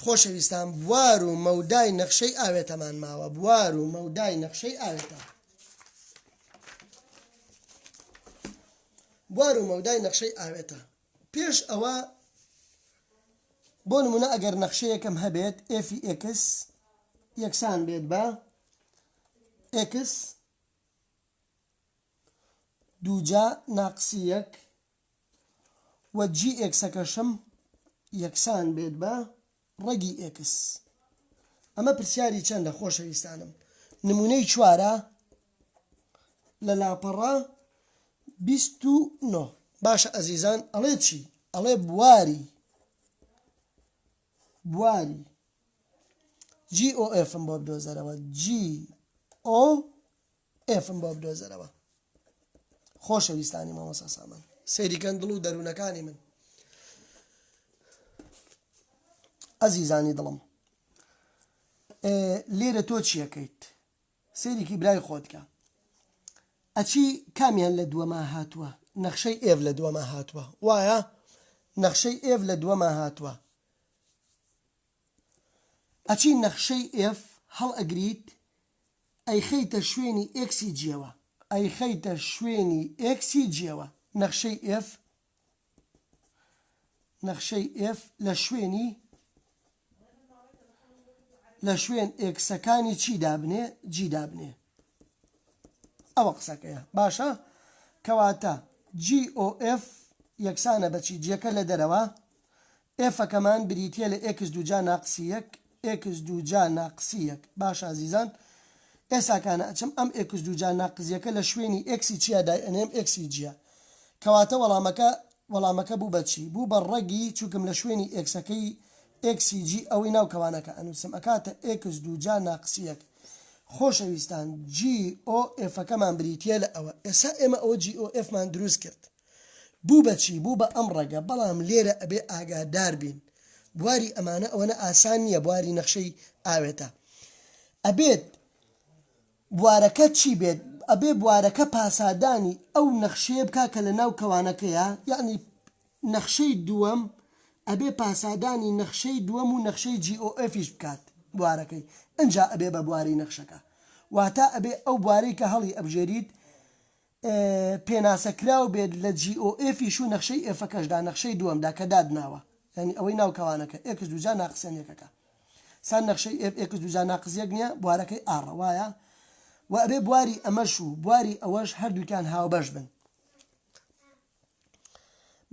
خۆشەویستان بوار و مەودای نەخشەی ئاوێتەمان ماوە بوار و مەودای نەخشەی ئاوێتە بوار و مەودای نەخشەی ئاوێتە پێش ئەوە بۆ نموونە ئەگەر نەخشەیەکم هەبێت ئێفی ئێکس یەکسان بێت بە ئێکس دووجا ناقسی یەک و جی ئێکسەکەشم یەکسان بێت بە ڕەگی ئێکس. ئەمە پرسیاری چەندە خۆشەویستانم؟ نموونەی چوارە لە لاپەڕە بیست و نۆ. باشە ئەزیزان ئەڵێ چی؟ ئەڵێ بواری بواری جی ئۆ ئێفم بۆ بدۆزەرەوە جی ئۆ ئێفم بۆ بدۆزەرەوە خۆشەویستانی مامۆسا سامان سەیریکەن دڵ و دەروونەکانی من ئەزیزانی دڵم لێرە تۆ چیەکەیت سەیرێکی برای خۆتکە ئەچی کامیان لە دووەما هاتووە نەخشەی ئێڤ لە دووەما هاتووە وایە نەخشەی ئێڤ لە دووەما هاتووە ئەچی نەخشەی ئێف هەڵئەگریت ئەیخەیتە شوێنی ئێکسی جیەوە ئەیخەیتە شوێنی ئێکسی جیەوە نەخشەی ئێف نەخشەی ئێف لە شوێنی لە شوێن ئێکسەکانی چی دابنێ جی دابنێ ئەوە قسەکەیە باشە کەواتە جی ئۆ ئێف یەکسانە بەچی جیەکە لە دەرەوە ئێفەکەمان بریتیە لە ئێکس دووجا ناقسی یەک ئێکس دووجا ناقسی یەک باشە ئەزیزان ئێساکانە ئەچم ئەم ئێکس دووجا ناقزیەکە لە شوێنی ئێکسی چیا دای ئەنێم ئێکسی جیا کەواتە وەڵامەکە وەڵامەکە بوو بە چی بوو بە ڕەگی چونکم لە شوێنی ئێکسەکەی ئێکسی جی ئەوەی ناو کەوانەکە ئەنووسم ئەکاتە ئێکس دووجا ناقسی یەک خۆشەویستان جی ئۆ ئێفەکەمان بریتیە لە ئەوە ئێسا ئێمە ئەوە جی ئۆ ئێفمان دروست کرد. بوو بە چی؟ بوو بە ئەم ڕەگە، بەڵام لێرە ئەبێ ئاگادار بین بواری ئەمانە ئەوەنە ئاسان نییە، بواری نەخشەی ئاوێتە ئەبێت بوارەکە چی بێت؟ ئەبێ بوارەکە پاسادانی ئەو نەخشەیە بکا کە لە ناو کەوانەکەیە، یەعنی نەخشەی دووەم ئەبێ پاسادانی نەخشەی دووەم و نەخشەی GOF-یش بکات بوارەکەی، ئنجا ئەبێ بە بواری نەخشەکە، واتە ئەبێ ئەو بوارەی کە هەڵی ئەبژێریت پێناسە کراو بێت لە جی ئۆ ئێفیش و نەخشەی ئێفەکەشدا، نەخشەی دووەمدا کە دادناوە، یانی ئەوەی ناو کەوانەکە، ئێکس دووجا ناقس یان یەکەکە. سان نەخشەی ئێف ئێکس دووجا ناقس یەک نییە، بوارەکەی ئاڕە، وایە؟ و ئەبێ بواری ئەمەش و بواری ئەوەش هەردووکیان هاوبەش بن.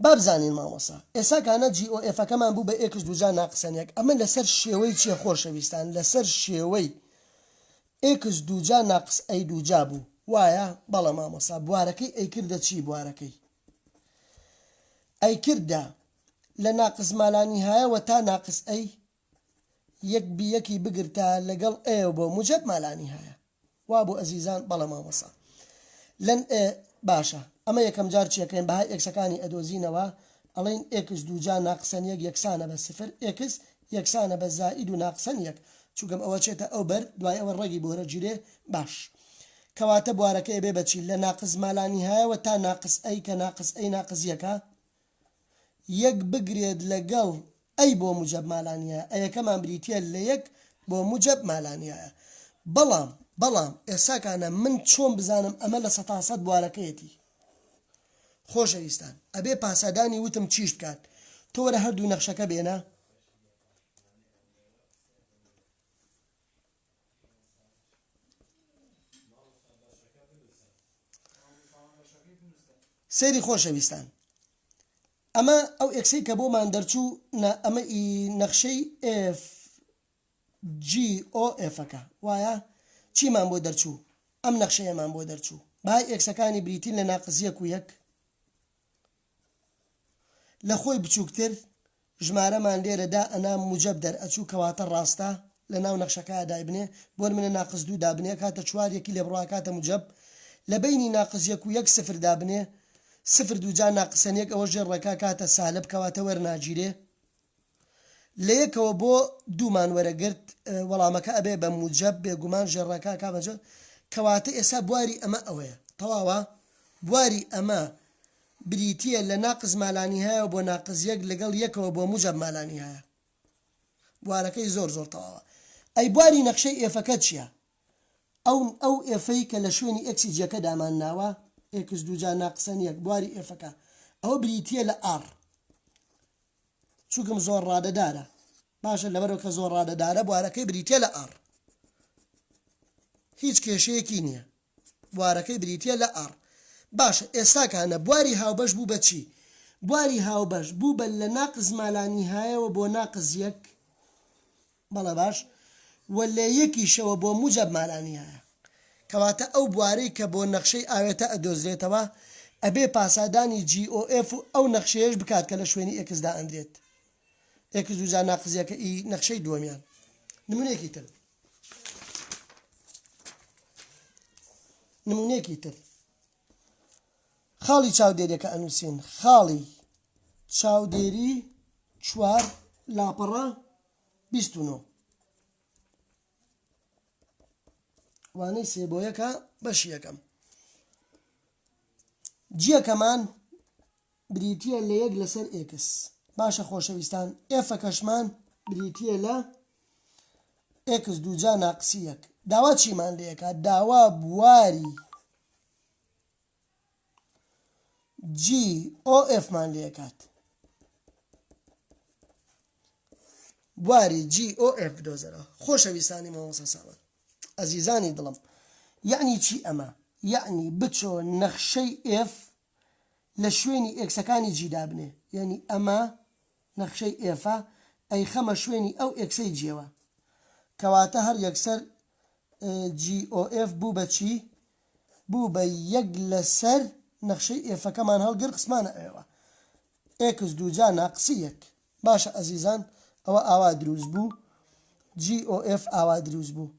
بابزانین مامۆسا ئێسا کانە جی ئۆ ئێفەکەمان بوو بە ئێکس دووجا ناقسەن یەک ئەمە لەسەر شێوەی چیە خۆشەویستان لەسەر شێوەی ئێکس دووجا ناقس ئەی دووجا بوو وایە بەڵە مامۆسا بوارەکەی ئەیکردە چی بوارەکەی ئەیکردە لە ناقس مالانیهایەوە تا ناقس ئەی یەک بی یەکی بگرتە لەگەڵ ئێ بۆ موجەب مالانی هایە وا بۆ ئەزیزان بەڵێ مامۆسا لەن ئێ باشە ئەمە یەکەم جار چیەکەین بەهای ئێکسەکانی ئەدۆزینەوە ئەڵین ئێکس دووجا ناقسەن یەک یەکسانە بە سفر ئێکس یەکسانە بە زائید و ناقسەن یەک چونکەم ئەوە چێتە ئەو بەر دوای ئەوە ڕەگی بۆرە جیرێ باش کەواتە بوارەکە ئەبێ بە چی لە ناقس مالانیهایەوە تا ناقس ئەی کە ناقس ئەی ناقس یەکە یەک بگرێت لەگەڵ ئەی بۆ موجەب مالانیایە ئەیەکەمان بریتیە لە یەک بۆ موجەب مالانیایە بەڵام بەڵام ئێساکانە من چۆن بزانم ئەمە لە سەتا سەد بوارەکەیەتی خۆشەویستان ئەبێ پاسادانی وتم چیش بکات تۆ وەرە هەردوو نەخشەکە بێنە سەیری خۆشەویستان ئەمە ئەو ئەکسی کە بۆمان دەرچوو ئەمە ئی نەخشەی FGOFەکە وایە چیمان بۆ دەرچوو ئەم نەخشەیەمان بۆ دەرچوو با ئەکسەکانی بریتین لە ناقزیەک و یەک لە خۆی بچوکتر ژمارەمان لێرە دا ئەنا موجەب دەر ئەچوو کەواتە ڕاستە لە ناو نەخشەکایا دایبنێ بۆ نمونە ناقس دوو دابنێ ئەکاتە چوار یەکی لێ بڕۆ ئەکاتە موجەب لە بەینی ناقس یەک و یەک سفر دابنێ سفر دووجا ناقسەن یەک ئەوە ژێر ڕێکا کاتە سالب کەواتە وەرناگیرێ لە یەکەوە بۆ دوو مان وەرەگرت وەڵامەکە ئەبێ بە موجەب بێگومان ژێرڕا کاک ئامە جۆن کەواتە ئێسا بواری ئەمە ئەوەیە تەواوە بواری ئەمە بریتیە لە ناقس مالانیهایەوە بۆ ناقس یەک لەگەڵ یەکەوە بۆ موجەب مالانیهایە بوارەکەی زۆر زۆر تەواوە ئەی بواری نەخشەی ئێفەکە چیە ئەو ئەو ئێفەی کە لە شوێنی ئێکسی جیەکە دامان ناوە ئێکس دوو جا ناقسەن یەک بواری ئێفەکە ئەوە بریتیە لە ئاڕ چوکم زۆر ڕادەدارە. باشە لەبەرو کە زۆر ڕادەدارە بوارەکەی بریتیە لە ئاڕ. هیچ کێشەیەکی نیە بوارەکەی بریتیە لە ئاڕ. باشە ئێستا کانە بواری هاوبەش بوو بە چی؟ بواری هاوبەش بوو بە لە ناقس مالانیهایەوە بۆ ناقس یەک. بەڵێ باش وە لە یەکیشەوە بۆ موجەب مانا نیایە کەواتە ئەو بوارەی کە بۆ نەخشەی ئاوێتە ئەدۆزرێتەوە ئەبێ پاسادانی جی ئۆ ئێف و ئەو نەخشەیەش بکات کە لە شوێنی ئێکس دائەندرێت ئێکس دوو جار ناقزیەکە ئی نەخشەی دووەمیان نمونێکی تر نمونێکی تر خاڵی چاودێریەکە ئەنووسین خاڵی چاودێری چوار لاپەڕە بیست و نۆ وانەی سێ بۆ یەکە بەشی یەکەم جیەکەمان بریتە لە یەک لەسەر ئێکس باشە خۆشەویستان ئێفە کەشمان بریتە لە ئێکس دووجا ناقسی یەک داوا چیمان لەکە داوا بواری GOF-مان لێکات. بواری GOF بدۆزەرەوە. خۆشەویستانی مامۆستا سامان. ئەزیزانی دڵم. یەعنی چی ئەمە؟ یەعنی بچۆ نەخشەی F لە شوێنی ئێکسەکانی G دابنێ. یەعنی ئەمە نەخشەی F-ە، ئەیخەمە شوێنی ئەو ئێکسەی G-ەوە. کەواتە هەر یەکسەر GOF بوو بە چی؟ بوو بە یەک لە سەر نەخشەی ئێفەکەمان هەڵگر خسمانە ئەوێوە ئێکس دوو جا ناقسی یەک باشە ئەزیزان ئەوە ئاوا دروست بوو جی ئۆ ئێف ئاوا دروست بوو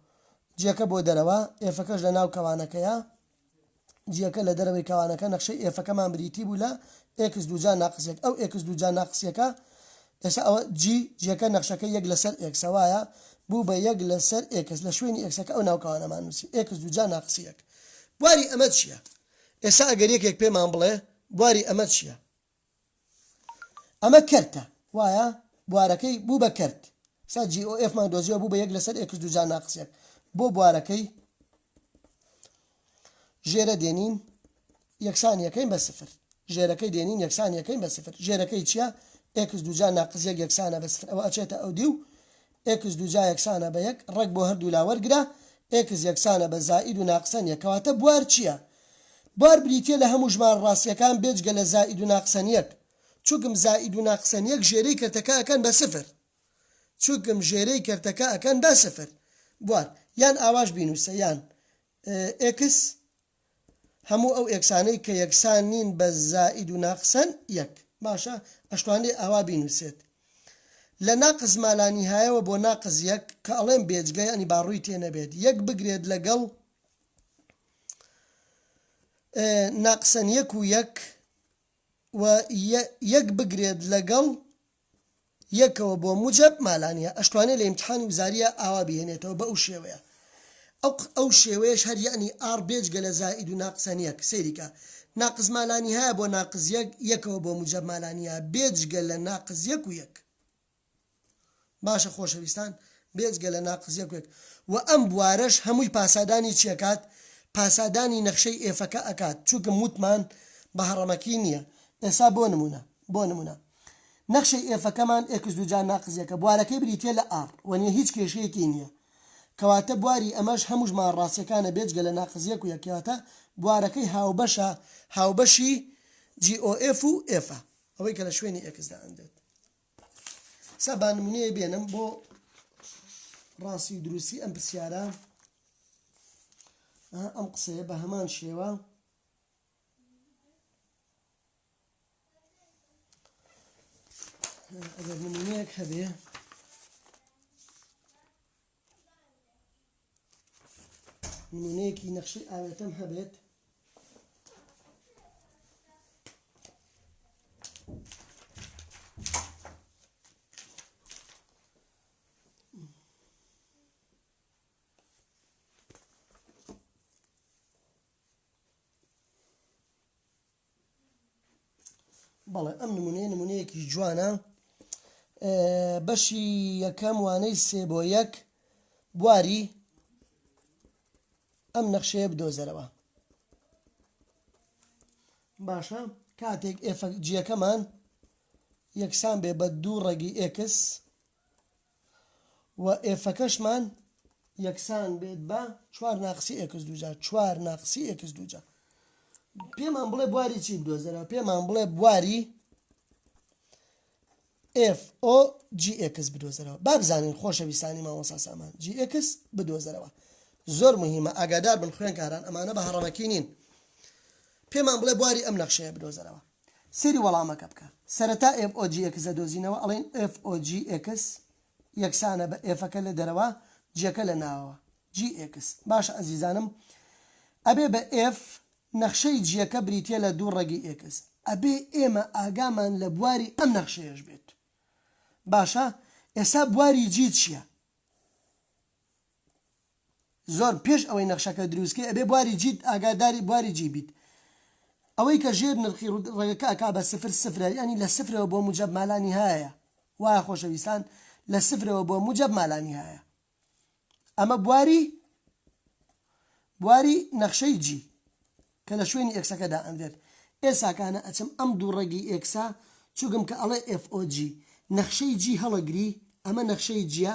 جیەکە بۆ دەرەوە ئێفەکەش لە ناو کەوانەکەیە جیەکە لە دەرەوەی کەوانەکە نەخشەی ئێفەکەمان بریتی بوو لە ئێکس دوو جا ناقسیەک ئەو ئێکس دوو جا ناقسیەکە ئێستا ئەوە جی، جیەکە نەخشەکەی یەک لەسەر ئێکسە وایە؟ بوو بە یەک لەسەر ئێکس لە شوێنی ئێکسەکە ئەو ناوکاوانەمان نووسی، ئێکس دوو جا ناقسی یەک. بواری ئەمە چییە؟ ئێستا ئەگەر یەکێک پێمان بڵێ بواری ئەمە چییە؟ ئەمە کەرتە وایە؟ بوارەکەی بوو بە کەرت. ئێستا جی ئۆ ئێفمان دۆزیەوە بوو بە یەک لەسەر ئێکس دوو جا ناقس یەک. بۆ بوارەکەی؟ ژێرە دێنین یەکسان یەکەین بە سفر ژێرەکەی دێنین یەکسان یەکەین بە سفر ژێرەکەی چییە ئێکس دوجا ناقز یەک یەکسانە بە سفر ئەوە ئەچێتە ئەو دی و ئێکس دوجا یەکسانە بە یەک ڕێک بۆ هەردوو لا وەرگرە ئێکس یەکسانە بە زائید و ناقسەن یەک کەواتە بوار چییە؟ بوار بریتییە لە هەموو ژمارە ڕاستییەکان بێجگە لە زائید و ناقسەن یەک چونکم زائید و ناقسەن یەک ژێرەی کەرتەکە ئەکەن بە سفر. چوکم ژێرێی کەرتەکە ئەکەن بە سفر بوار یان ئاواش بینوسە یان ئێکس هەموو ئەو ئێکسانەی کە یەکسان نین بە زائید و ناقسەن یەک باشە ئەشتوانێ ئاوا بینوسێت لە ناقس مالانیهایەوە بۆ ناقس یەک کە ئەڵێم بێجگە یانی با ڕووی تێ نەبێت یەک بگرێت لەگەڵ ناقسەن یەک و یەک و یەک بگرێت لەگەڵ یەکەوە بۆ موجەب مالانیە ئەشتوانێ لە ئیمتحانی وزاریە ئاوا بیهێنێتەوە بە ئەو شێوەیە ئەو ئەو شێوەیەش هەر یەعنی ئاڕ بێجگە لە زائید و ناقس هەن یەک سەیری کە ناقس مالانیهایە بۆ ناقس یەک یەکەوە بۆ موجەب مالانیە بێجگە لە ناقس یەک و یەک باشە خۆشەویستان بێجگە لە ناقس یەک و یەک وە ئەم بوارەش هەمووی پاسادانی چی ئەکات پاسادانی نەخشەی ئێفەکە ئەکات چونکم وتمان بە هەڕەمەکی نیە ئێسا بۆ نمونە بۆ نمونە نەخشەی ئێفەکەمان ئێکس دووجا ناقس یەکە بوارەکەی بریتیە لە ئاڕ وە نیە هیچ کێشەیەکی نیە کەواتە بواری ئەمەش هەموو ژمارە ڕاستیەکانە بێجگە لە ناقس یەک و یەک کەواتە بوارەکەی هاوبەشە هاوبەشی جی ئۆ ئێف و ئێفە ئەوەی کە لە شوێنی ئێکس دا ئەندێت سا با نمونەیە بێنم بۆ ڕاستی و دروستی ئەم پرسیارە ئەم قسەیە بە هەمان شێوە ئەگەر نمونەیەک هەبێ نمونەیەکی نەخشی ئاوێتەم هەبێت بەڵێ ئەم نمونەیە نمونەیەکی جوانە بەشی یەکەم وانەی سێ بۆ یەک بواری ئەم نەخشەیە بدۆزەرەوە باشە کاتێک ئێفەکجیەکەمان یەکسان بێ بە دوو ڕێگی ئێکس و ئێفەکەشمان یەکسان بێت بە چوار ناقسی ئێکس دووجا چوار ناقسی ئێکس دووجا پێمان بڵێ بواری چی بدۆزەرەوە پێمان بڵێ بواری FOGX بدۆزەرەوە با بزانین خۆشەویستانی مامۆسا سامان GX بدۆزەرەوە زۆر مهمە ئاگادار بن خوێنکاران ئەمانە بە هەڕەمەکی نین پێمان بڵێ بواری ئەم نەخشەیە بدۆزەرەوە سەیری وەڵامەکە بکە. سەرەتا ئێف ئۆ جی ئێکس دەدۆزینەوە ئەڵێین ئێف ئۆ جی ئێکس یەکسانە بە ئێفەکە لە دەرەوە جیەکە لە ناوەوە جی ئێکس باشە ئەزیزانم ئەبێ بە ئێف نەخشەی جیەکە بریتیە لە دوو ڕەگی ئێکس ئەبێ ئێمە ئاگامان لە بواری ئەم نەخشەیەش بێت باشە ئێسا بواری جی چیە؟ زۆر پێش ئەوەی نەخشەکە دروست کەی ئەبێ بواری جیت ئاگاداری بواری جی بیت ئەوەی کە ژێر نرخی ڕەگەکە ئەکا بە سفر سفرە یانی لە سفرەوە بۆ موجەب مالانیهایە وایە خۆشەویستان لە سفرەوە بۆ موجەب مالانیهایە ئەمە بواری بواری نەخشەی جی. کە لە شوێنی ئێکسەکە دائەنرێت ئێسا کانە ئەچم ئەم دوو ڕەگی ئێکسە چوگم کە ئەڵێ ئێف ئۆ جی نەخشەی جی هەڵەگری ئەمە نەخشەی جیە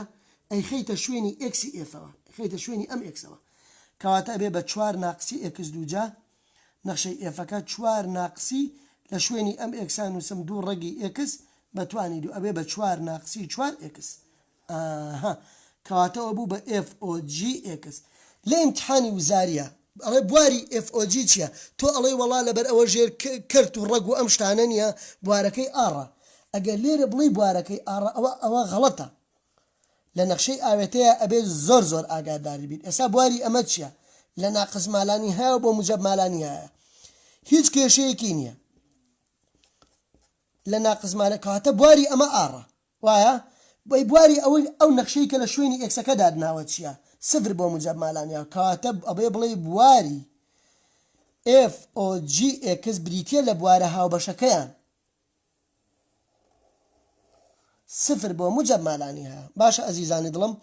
ئەیخەیتە شوێنی ئێکسی ئێفەوە ئەیخەیتە شوێنی ئەم ئێکسەوە کەواتە ئەبێ بە چوار ناقسی ئێکس دوو جا نەخشەی ئێفەکە چوار ناقسی لە شوێنی ئەم ئێکسا نوسم دوو ڕەگی ئێکس بە توانی دوو ئەبێ بە چوار ناقسی چوار ئێکس ئاهاا کەواتە ئەوە بوو بە ئێف ئۆ جی ئێکس لە ئیمتحانی وزاریە ئەڵێ بواری ئێف ئۆ جی چیە تۆ ئەڵێی وەڵا لەبەر ئەوە ژێر کەرت و ڕەگ و ئەم شتانە نیە بوارەکەی ئاڕە ئەگەر لێرە بڵێی بوارەکەی ئاڕە ئەوە ئەوە غەڵەتە لە نەخشەی ئاوێتەیا ئەبێ زۆر زۆر ئاگادار بیت ئێسا بواری ئەمە چیە لە ناقس مالانیهایەوە بۆ موجەب مالانیهایە هیچ کێشەیەکی نیە لە ناقس مالە کەواتە بواری ئەمە ئاڕە وایە بەی بواری ئەوەی ئەو نەخشەی کە لە شوێنی ئێکسەکە دادناوە چیە سفر بۆ موجەب مالانیا کەواتە ئەبێ بڵێی بواری ئێف ئۆ جی ئێکس بریتیە لە بوارە هاوبەشەکەیان سفر بۆ موجەب مالانیا باشە ئەزیزانی دڵم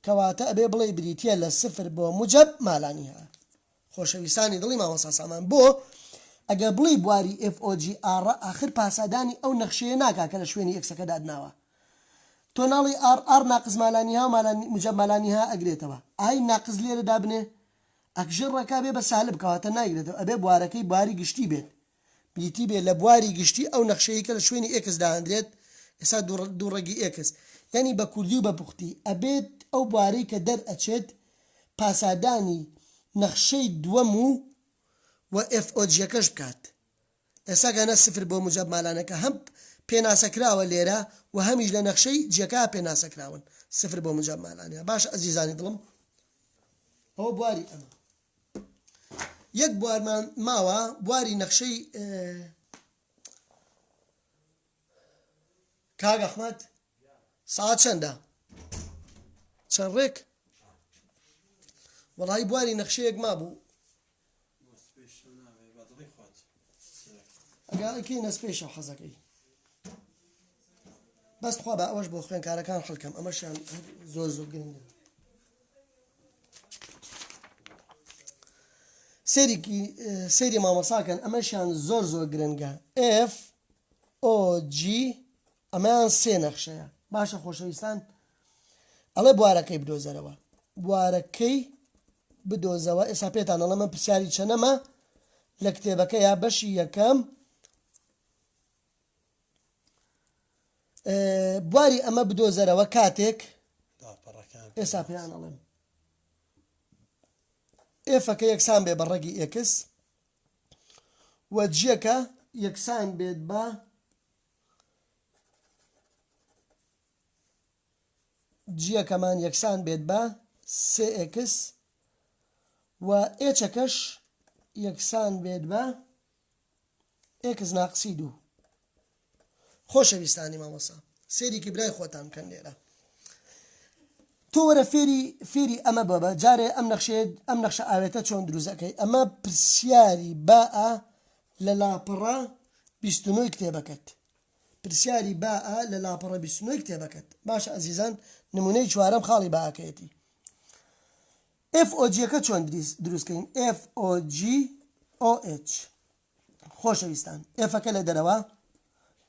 کەواتە ئەبێ بڵێی بریتیە لە سفر بۆ موجەب مالانیا. خۆشەویستانی دڵی مامۆستا سامان بۆ ئەگەر بڵێی بواری ئێف ئۆ جی ئاڕە ئاخر پاسادانی ئەو نەخشەیە ناکا کە لە شوێنی ئێکسەکە داتناوە تۆ ناڵێی ئاڕ ئاڕ ناقس مالانیها و مالانی موجەب مالانیها ئەگرێتەوە ئای ناقس لێرە دابنێ ئەک ژێر ڕێکا بێ بە سالب کەواتە نایگرێتەوە ئەبێ بوارەکەی بواری گشتی بێت بریتی بێ لە بواری گشتی ئەو نەخشەیەی کە لە شوێنی ئێکس داهەندرێت ئێستا دوو ڕەگی ئێکس یانی بە کوردی و بە پوختی ئەبێت ئەو بوارەی کە دەر ئەچێت پاسادانی نەخشەی دووەم و و ئێفئۆجیەکەش بکات ئێستا گەنە سفر بۆ موجەب مالانەکە هەم پێناسە کراوە لێرە و هەمیش لە نەخشەی جیەکە پێناسە کراون سفر بۆ موجەب مالانە باشە ئەزیزانی دڵم ئەوە بواری ئەمە یەک بوارمان ماوە بواری نەخشەی کاک ئەحمەد ساعت چەندە چەند ڕێک وەڵی بواری نەخشەیەک ما بوو ئەگا ئەکەی نەس پێشە حەزەکەی بەس خوا بە ئەوەش بۆ خوێنکارەکان حەلکەم ئەمەشیان زۆر زۆر گرنگە سێریکی سێری مامەساکەن ئەمەشیان زۆر زۆر گرنگە F OG ئەمەیان سێ نەخشەیە باشە خۆشەویستان ئەڵێ بوارەکەی بدۆزەرەوە بوارەکەی بدۆزەوە ئێسا پێتان ئەڵە من پرسیاری چەنەمە لە کتێبەکە یا بەشی یەکەم بواری ئەمە بدۆزەرەوە کاتێک ئێسا پێیان ئەڵێم ئێفەکە یەکسان بێ بە ڕەگی ئێکس و جیەکە یەکسان بێت بە جیەکەمان یەکسان بێت بە سێ ئێکس و ئێچەکەش یەکسان بێت بە ئێکس ناقسی دوو خۆشەویستانی مامۆسا سێریکی برای خۆتان بکەن لێرە تۆ وەرە فێری فێری ئەمە بەبە جارێ ئەم نەخشێت ئەم نەخشە ئاوێتە چۆن دروزەکەی ئەمە پرسیاری باە لە لاپەڕە بیستنەوەی کتێبەکەت پرسیاری باء لە لاپەڕە بیست و نۆ ی کتێبەکەت. باشە ئەزیزان نمونەی چوارەم خاڵی باءەکەیەتی. FOG ەکە چۆن دروست کەین؟ FOGOH خۆشەویستان F ەکە لە دەرەوە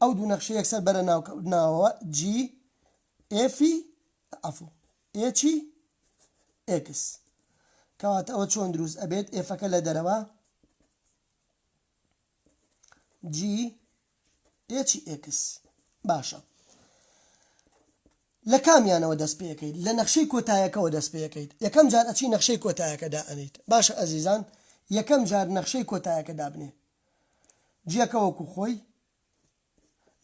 ئەو دوو نەخشە یەکسەر بەرە ناو ناوەوە G F عفو H X کەواتە ئەوە چۆن دروست ئەبێت F ەکە لە دەرەوە G ئێچی ئێکس باشە لە کامیانەوە دەست پێەکەیت لە نەخشەی کۆتایەکەەوە دەست پێەکەیت یەکەم جار ئەچی نەخشەی کۆتایەکەدا ئەنیت باشە ئەزیزان یەکەم جار نەخشەی کۆتایەکە دابنێ جیەکە وەکو خۆی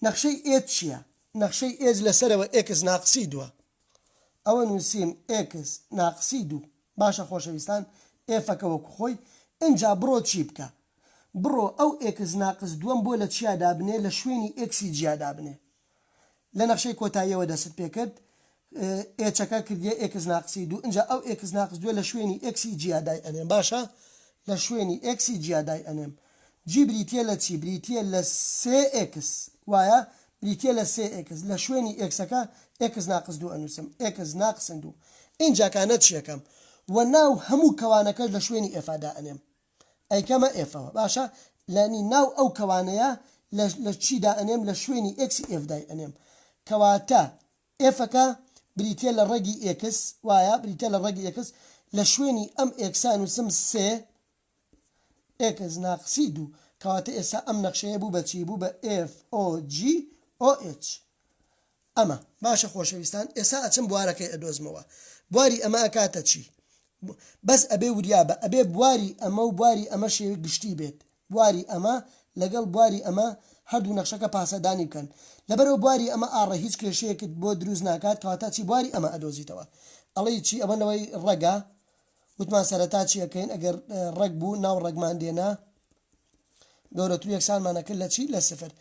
نەخشەی ئێت چییە نەخشەی ئێج لەسەرەوە ئێکس ناقسی دووە ئەوە نووسیم ئێکس ناقسی دوو باشە خۆشەویستان ئێفەکە وەکو خۆی ئنجا بڕۆ چی بکە بڕۆ ئەو ئێکس ناقس دووەم بۆ لە چیا دابنێ لە شوێنی ئێکسی جیا دابنێ لە نەخشەی کۆتاییەوە دەستت پێ کرد ئێچەکە کردیە ئێکس ناقسی دوو ئنجا ئەو ئێکس ناقس دووە لە شوێنی ئێکسی جیا دای ئەنێم باشە لە شوێنی ئێکسی جیا دای ئەنێم جی بریتیە لە چی؟ بریتیە لە سێ ئێکس وایە؟ بریتیە لە سێ ئێکس لە شوێنی ئێکسەکە ئێکس ناقس دوو ئەنووسم ئێکس ناقسن دوو ئینجا کا نە چیەکەم و ناو هەموو کەوانەکەش لە شوێنی ئێفا دائەنێم ئەیکەمە ئێفەوە باشە لانی ناو ئەو کەوانەیە لە لە چی دائەنێم لە شوێنی ئێکسی ئێف دای ئەنێم کەواتە ئێفەکە بریتیە لە ڕەگی ئێکس وایە بریتیە لە ڕەگی ئێکس لە شوێنی ئەم ئێکسا نووسم سێ ئێکس ناقسی دوو. کەواتە ئێستا ئەم نەخشەیە بوو بە چی؟ بوو بە FOGOH. ئەمە. باشە خۆشەویستان ئێستا ئەچم بوارەکەی ئەدۆزمەوە. بواری ئەمە ئەکاتە چی؟ بەس ئەبێ وریا بە. ئەبێ بواری ئەمە و بواری ئەمە شێوەی گشتی بێت. بواری ئەمە لەگەڵ بواری ئەمە هەردوو نەخشەکە پاسەدانی بکەن. لەبەرئەوە بواری ئەمە ئاڕە هیچ کێشەیەکت بۆ دروست ناکات کەواتە ئەچی بواری ئەمە ئەدۆزیتەوە. ئەڵێی چی؟ ئەوە نەوەی ڕەگە. وتمان سەرەتا چی ئەکەین ئەگەر ڕێک بوو ناو ڕێکمان دێنا گەورەتر یەکسانمان ئەکرد لە چی لە سفر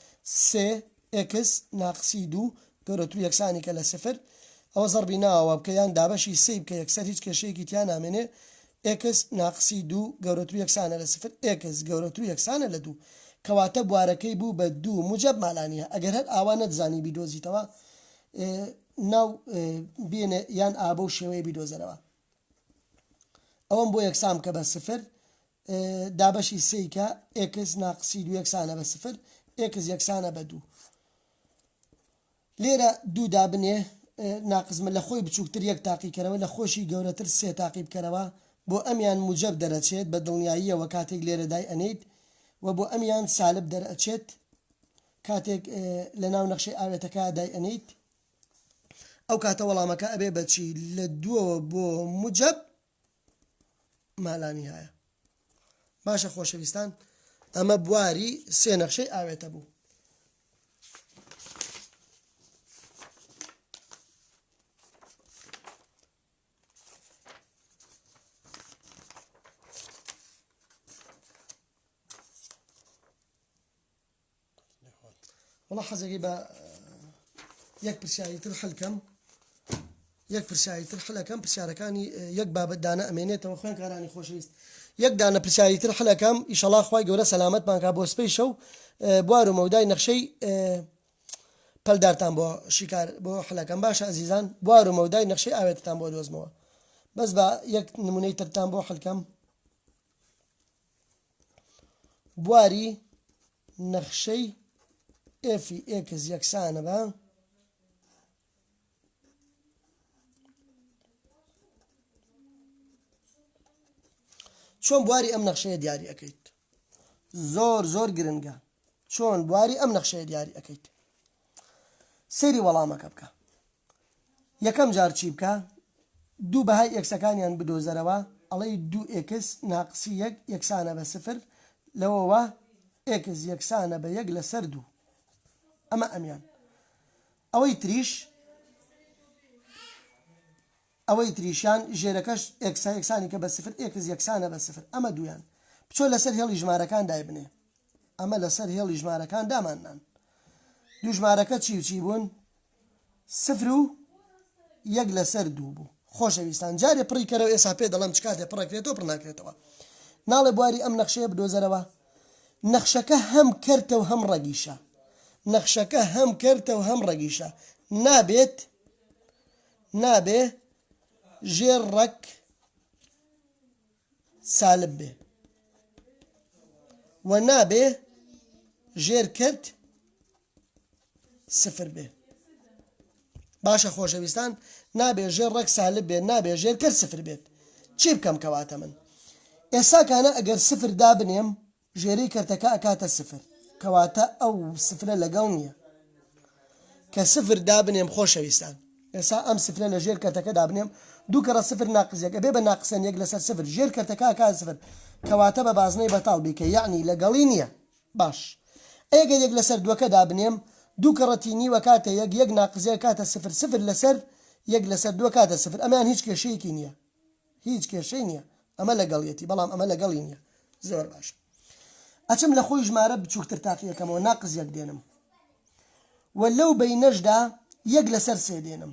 سێ ئێکس ناقسی دوو گەورەتر یەکسانی کە لە سفر ئەوە زەڕبی ناوە بکە یان دابەشی سێی بکە یەکسەر هیچ کێشەیەکی تیا نامێنێ ئێکس ناقسی دوو گەورەتر یەکسانە لە سفر ئێکس گەورەتر یەکسانە لە دوو کەواتە بوارەکەی بوو بە دوو موجب مالانیە ئەگەر هەر ئاوا نەتزانی بیدۆزیتەوە ناو بێنێ یان ئابە و شێوەیە بیدۆزەرەوە ئەوەم بۆ یەکسان بکە بە سفر دابەشی سێی کە ئێکس ناقسی دوو یەکسانە بە سفر ئێکس یەکسانە بە دوو لێرە دوو دابنێ ناقزمە لە خۆی بچووکتر یەک تاقیکەرەوە لە خۆشی گەورەتر سێ تاقی بکەرەوە بۆ ئەمیان موجب دەرەچێت بە دڵنیاییەوە کاتێک لێرە دای ئەنیت و بۆ ئەمیان سالب دەرەچێت کاتێک لە ناو نەخشەی ئاوێتەکە دای ئەنیت ئەو کاتە وەڵامەکە ئەبێ بە چی لە دووەوە بۆ مجەب مالانی هەیە باشە خۆشەویستان ئەمە بواری سێ نەخشەی ئاوێتە بوو وڵا حەزەکەی بە یەک پرسیاری تر حلکەم یەک پرسیاری تر حلەکەم پرسیارەکانی یەک بابەت دانە ئەمێنێتەوە خوێن کارانی خۆشەویست یەک دانە پرسیاری تر حلەکەم ئیشەڵا خی گەورە سەلامەت پانکا بۆ سپی شەو بوار و مەودای نەخشەی پەلدارتان بۆ شیکار بۆ حلەکەم باشە ئەزیزان بوار و مەودای نەخشەی ئاوێتتان بۆ دۆزمەوە بەس بە یەک نمونەی ترتان بۆ حلکەم بواری نەخشەی ئێفی ئێکس یەکسانە بە چۆن بواری ئەم نەخشەیە دیاری ئەەکەیت زۆر زۆر گرنگە چۆن بواری ئەم نەخشەیە دیاری ئەەکەیت سری وەڵامەکە بکە یەکەم جار چی بکە؟ دوو بەهای ئێکسەکانیان بدۆزەرەوە، ئەڵێی دوو ئێکس ناقسی یەک یەکسانە بە سفر، لەوەوە ئێکس یەکسانە بە یەک لەسەر دوو. ئەمە ئەمیان. ئەوەی تریش، ئەوەی تریشیان ژێرەکەش ئێکسە یەکسانی کە بە سفر، ئێکس یەکسانە بە سفر. ئەمە دوویان. بچۆ لەسەر هێڵی ژمارەکان دایبنێ. ئەمە لەسەر هێڵی ژمارەکان داماننان. دوو ژمارەکە چی و چی بوون؟ سفر و یەک لەسەر دوو بوو. خۆشەویستان، جارێ پڕی کەرەوە ئێسا پێ دەڵێم چ کاتێ پڕەکرێتەوە پڕ ناکرێتەوە. ناڵێ بواری ئەم نەخشەیە بدۆزەرەوە؟ نەخشەکە هەم کەرتە و هەم ڕەگیشە. نەخشەکە هەم کەرتە و هەم ڕەگیشە. نابێت نابێ ژێر ڕەگ سالب بێ و نابێ ژێر کەرت سفر بێ باشە خۆشەویستان نابێ ژێر ڕێک سالب بێت نابێ ژێر کەر سفر بێت چی بکەم کەواتە من ئێساکانە ئەگەر سفر دابنێم ژێری کەرتەکە ئەکاتە سفر کەواتە ئەو سفرە لەگەڵ نییە کە سفر دابنێم خۆشەویستان ئێسا ئەم سفرە لە ژێر کەرتەکە دابنێم دوو کەڕە سفر ناقزیەک ئەبێ بە ناقسەن یەک لەسەر سفر ژێر کەرتەکە کا سفر کەواتە بە بازنەی بەتاڵ بیکە یعنی لەگەڵی نییە باش ئەی گەر یەک لەسەر دوەکە دابنێم دوو کەڕەتی نیو ئەکاتە یەک یەک ناقز یەک ئەکاتە سفر سفر لەسەر یەک لەسەر دوو ئەکاتە سفر ئەمەیان هیچ کێشەیەکی نیە هیچ کێشەی نیە ئەمە لەگەڵیەتی بەڵام ئەمە لەگەڵی نیە زۆر باشە ئەچم لە خۆی ژمارە بچوکتر تاقی ئەکەمەوە ناقز یەک دێنم وە لەو بەینەشدا یەک لەسەر سێ دێنم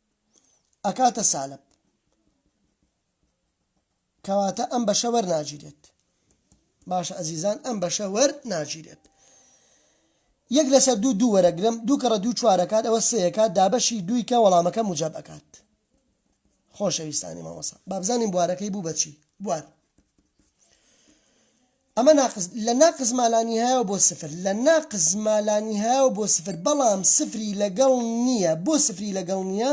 ئەکاتە سالب کەواتە ئەم بەشە وەرناگیرێت باشە ئەزیزان ئەم بەشە وەر ناگیرێت یەک لەسەر دوو دوو وەرەگرم دوو کەڕە دوو چوارەکات ئەوە سەیەکات دابەشی دووی کە وەڵامەکە مجاب ئەکات خۆشەویستانی مامۆسا بابزانین بوارەکەی بوو بەچی بوار ئەمە ناقس لە ناقس ما لا نیهایەوە بۆ سفر لە ناقس ما لا نیهایەوە بۆ سفر بەڵام سفری لەگەڵ نییە بۆ سفری لەگەڵ نییە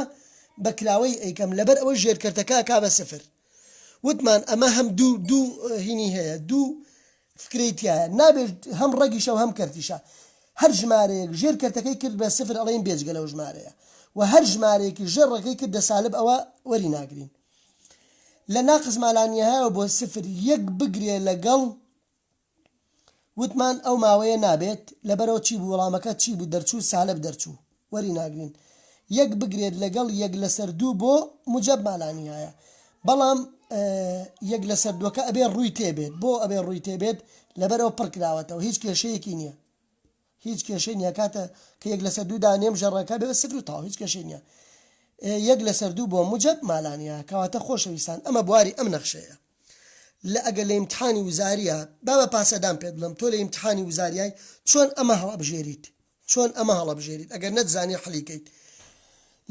بە کراوەی ئەیکەم لەبەر ئەوەی ژێرکەرتەکە ئەکا بە سفر وتمان ئەمە هەم دوو دوو هینی هەیە دوو فکرەی تیایە نابێ هەم ڕەگیشە و هەم کەرتیشە هەر ژمارەیەک ژێر کەرتەکەی کرد بە سفر ئەڵێین بێجگە لەو ژمارەیە و هەر ژمارەیەکی ژێر ڕەگەی کردە سالب ئەوە وەری ناگرین لە ناقص ما لا نهایەوە بۆ سفر یەک بگرێ لەگەڵ وتمان ئەو ماوەیە نابێت لەبەرەوە چی بوو وەڵامەکە چی بوو دەرچوو سالب دەرچوو وەری ناگرین یەک بگرێت لەگەڵ یەک لەسەر دوو بۆ موجب ما لا نهایە بەڵام یەک لەسەر دووەکە ئەبێ ڕووی تێبێت بۆ ئەبێ ڕووی تێبێت لەبەرەوە پڕکراوەتەوە هیچ کێشەیەکی نییە هیچ کێشەی نیە کاتە کە یەک لەسەر دوو دانێم ژەڕەکە بێ سفر و تەواو هیچ کێشەی نیە یەک لەسەر دوو بۆ موجەب مالانیا کەواتە خۆشەویستان ئەمە بواری ئەم نەخشەیە لە ئەگەر لە ئیمتحانی وزاریە با بە پاسەدان پێت بڵێم تۆ لە ئیمتحانی وزاریای چۆن ئەمە هەڵەبژێریت چۆن ئەمە هەڵەبژێریت ئەگەر نەتزانی حەلیکەیت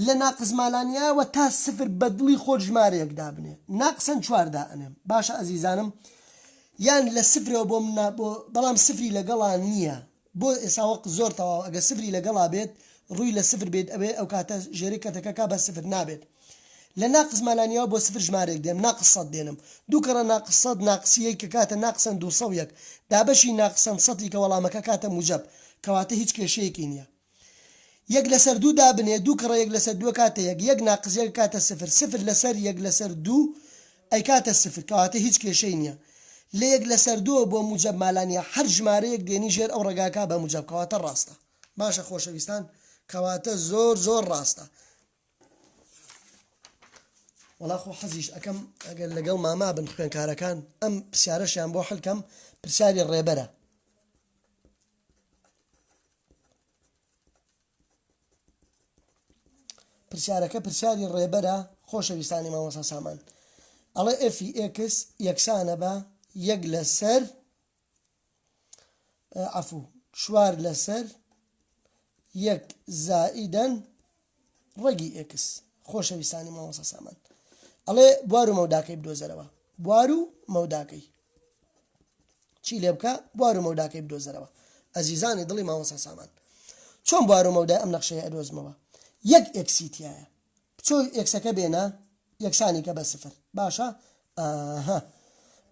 لە ناقس مالانیایەوە تا سفر بە دڵی خۆت ژمارەیەک دابنێ ناقسەن چوار دائەنێم باشە ئەزیزانم یان لە سفرەوە بۆ من بۆ بەڵام سفری لەگەڵا نییە بۆ ئێسا وەق زۆر تەواوە ئەگەر سفری لەگەڵا بێت ڕووی لە سفر بێت ئەوێ ئەوکاتە ژێرەی کەتەکە کا بە سفر نابێت لە ناقس مالانیایەوە بۆ سفر ژمارەیەک دێم ناقس سەد دێنم دوو کەڕە ناقس سەد ناقسی یەی کە کاتە ناقسەن دوو سەو یەک دابەشی ناقسەن سەتی کە وەڵامەکە کاتە موجەب کەواتە هیچ کێشەیەکی نییە یەک لەسەر دوو دابنێ، دوو کڕە یەک لەسەر دوو ئەکاتە یەک، یەک ناقس یەک ئەکاتە سفر، سفر لەسەر یەک لەسەر دوو ئەیکاتە سفر، کەواتە هیچ کێشەی نییە لە یەک لەسەر دووەوە بۆ موجەب مالا نییە، هەر ژمارەیەک دێنی ژێر ئەو ڕەگا کا بە موجەب، کەواتە ڕاستە. باشە خۆشەویستان کەواتە زۆر زۆر ڕاستە. وەڵا خۆ حەزیش ئەکەم ئەگەر لەگەڵ ماما بن خوێنکارەکان ئەم پرسیارەشیان بۆ حلکەم پرسیاری ڕێبەرە پرسیارەکە پرسیاری ڕێبەرە خۆشەویستانی مامۆسا سامان ئەڵێ ئەفی ئێکس یەکسانە بە یەک لەسەر عفو چوار لەسەر یەک زائیدەن ڕەگی ئێکس خۆشەویستانی مامۆسا سامان ئەڵێ بوار و مەوداکەی بدۆزەرەوە بوار و مەوداکەی چی لێ بکە بوار و مەوداکەی بدۆزەرەوە ئەزیزانی دڵی مامۆسا سامان چۆن بوار و مەودای ئەم نەخشەیە ئەدۆزمەوە یەک ئێکسیتیایە بچۆ ئێکسەکە بێنە یەکسانی کە بە سفر باشە ئاها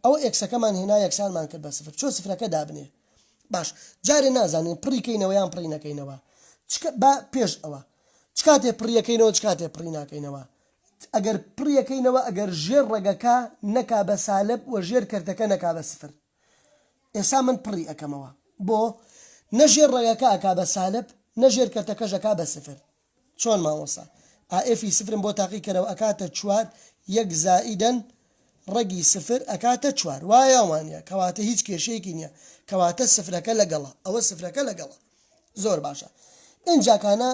ئەوە ئێکسەکەمان هێنا یەکسانمان کرد بە سفر چۆ سفرەکە دابنێ باش جارێ نازانین پڕی کەینەوە یان پڕی نەکەینەوە با پێش ئەوە چ کاتێ پڕیەکەینەوە چ کاتێ پڕی ناکەینەوە ئەگەر پڕیەکەینەوە ئەگەر ژێر ڕەگەکە نەکا بە سالب و ژێر کەرتەکە نەکا بە سفر ئێسا من پڕی ئەەکەمەوە بۆ نەژێر ڕێگەکە ئەکا بە سالب نەژێر کەرتەکەژەکە بە سفر چۆن مامۆستا؟ ئائێفی سفرم بۆ تاقی کەرەوە ئەکاتە چوار یەک زائیدەن ڕەگی سفر ئەکاتە چوار وایە وانیە کەواتە هیچ کێشەیەکی نیە کەواتە سفرەکە لەگەڵە ئەوە سفرەکە لەگەڵە زۆر باشە ئینجا کانە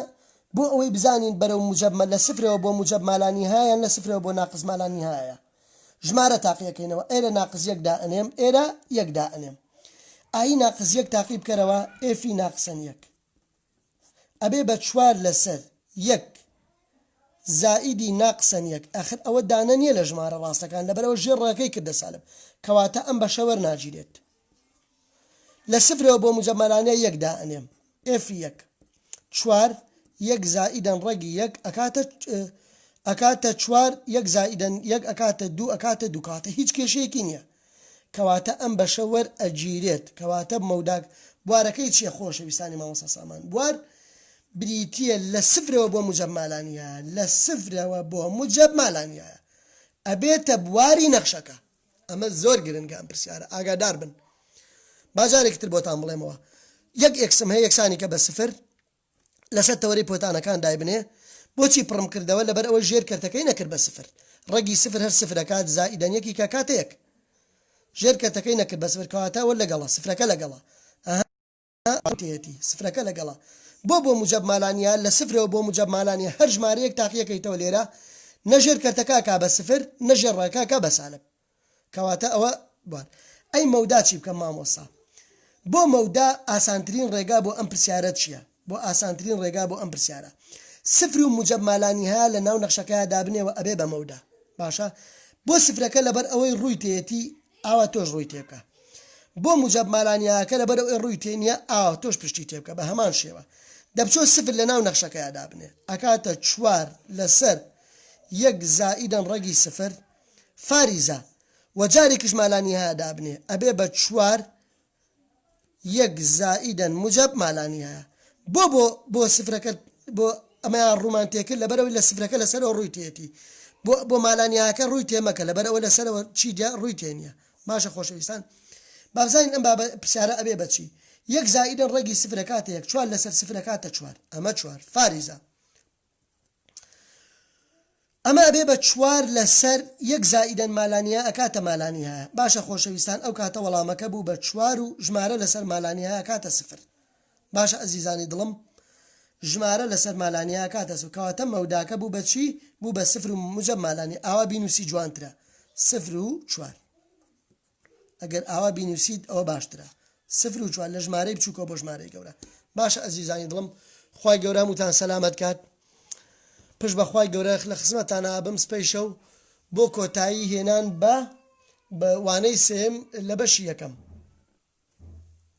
بۆ ئەوەی بزانین بەرەو موجەب مە لە سفرەوە بۆ موجەب مالانی هایان لە سفرەوە بۆ ناقص مالانی هایە ژمارە تاقیەکەینەوە ئێرە ناقص یەک دا ئەنێم ئێرە یەک دا ئەنێم ئایی ناقص یەک تاقی بکەرەوە ئێفی ناقصەن یەک ئەبێ بە چوار لەسەر یەک زائیدی ناقسەن یەک ئەخر ئەوە دانە نیە لە ژمارە ڕاستەکان لەبەرئەوە ژێر ڕەگەکەی کردە سالب کەواتە ئەم بەشە وەرناگیرێت لە سفرەوە بۆ موجەمەلانە یەک دائەنێم ئێف یەک چوار یەک زائیدەن ڕەگی یەک ئەکاتە ئەکاتە چوار یەک زائیدەن یەک ئەکاتە دوو ئەکاتە دوو کاتە هیچ کێشەیەکی نییە کەواتە ئەم بەشە وەر ئەگیرێت کەواتە مەوداک بوارەکەی چیە خۆشەویستانی مامۆستا سامان بوار بریتیە لە سفرەوە بۆ موجەب مالانیایە لە سفرەوە بۆ موجەب مالانیایە ئەبێتە بواری نەخشەکە ئەمە زۆر گرنگە ئەم پرسیارە ئاگادار بن با جارێکی تر بۆتان بڵێمەوە یەک ئێکسم هەیە یەکسانی کە بە سفر لەسەر تەوەرەی پۆتانەکان دایبنێ بۆچی پڕم کردەوە لەبەر ئەوەی ژێر کەرتەکەی نەکرد بە سفر ڕەگی سفر هەر سفر ئەکات زائیدەن یەکی کە کاتە یەک ژێر کەرتەکەی نەکرد بە سفر کەواتە وە لەگەڵە سفرەکە لەگەڵە ئەها تێیەتی سفرەکە لەگەڵە بۆ بۆ موجەب مالانیا لە سفرەوە بۆ موجەب مالانیا هەر ژمارەیەک تاقیەکەیتەوە لێرە نە ژێر کەرتەکە ئەکا بە سفر نە ژێر ڕەگەکە ئەکا بە سالب کەواتە ئەوە بوار. ئەی مەودا چی بکەم مامۆستا؟ بۆ مەودا ئاسانترین ڕێگا بۆ ئەم پرسیارە چیە؟ بۆ ئاسانترین ڕێگا بۆ ئەم پرسیارە سفر و موجەب مالانیهایا لە ناو نەخشەکەیا دابنێ وە ئەبێ بە مەودا باشە بۆ سفرەکە لەبەر ئەوەی ڕووی تێیەتی ئاوا تۆش ڕووی تێ بکە بۆ موجەب مالانیهاکە لەبەر ئەوەی ڕووی تێ نییە ئاوا تۆش پشتی تێ بکە بە هەمان شێوە دەبچۆ سفر لە ناو نەخشەکەیا دابنێ ئەکاتە چوار لەسەر یەک زائیدەن ڕەگی سفر فاریزە وە جارێکیش مالانیهایا دابنێ ئەبێ بە چوار یەک زائیدا موجەب مالانیهایا بۆ بۆ بۆ سفرەکە بۆ ئەمەیان ڕوومان تێکرد لەبەرەوەی لە سفرەکە لەسەرەوە ڕووی تێتی بۆ بۆ مالانیهاکە ڕووی تێمەکە لەبەرەوە لەسەرەوە چی دیا ڕووی تێ نییە باشە خۆشەویستان بابزانین ئەم بابە پرسیارە ئەبێ بەچی یەک زائیدن ڕێگی سفرەکاتە یەک چوار لەسەر سفرەکاتە چوار ئەمە چوار فاریزە ئەمە ئەبێ بە چوار لە سەر یەک زائیدەن مالانیا ئەکاتە مالانیهایە باشە خۆشەویستان ئەو کاتە وەڵامەکە بوو بە چوار و ژمارە لە سەر مالانیهایە ئەکاتە سفر باشە ئەزیزانی دڵم ژمارە لە سەر مالانیا ئەکاتە سفر کەواتە مەوداکە بوو بە چی بوو بە سفر و موجەب مالانی ئاوا بینوسی جوانترە سفر و چوار ئەگەر ئاوا بینوسیت ئەوە باشترە سفر و چوار لە ژمارەی بچووکەوە بۆ ژمارەی گەورە باشە ئەزیزانی دڵم خی گەورە وتان سەلامت کات پشت بەخوای گەورە لە خزمەتانە ئابم سپیشە و بۆ کۆتایی هێنان بە بە وانەی سێم لە بەشی یەکەم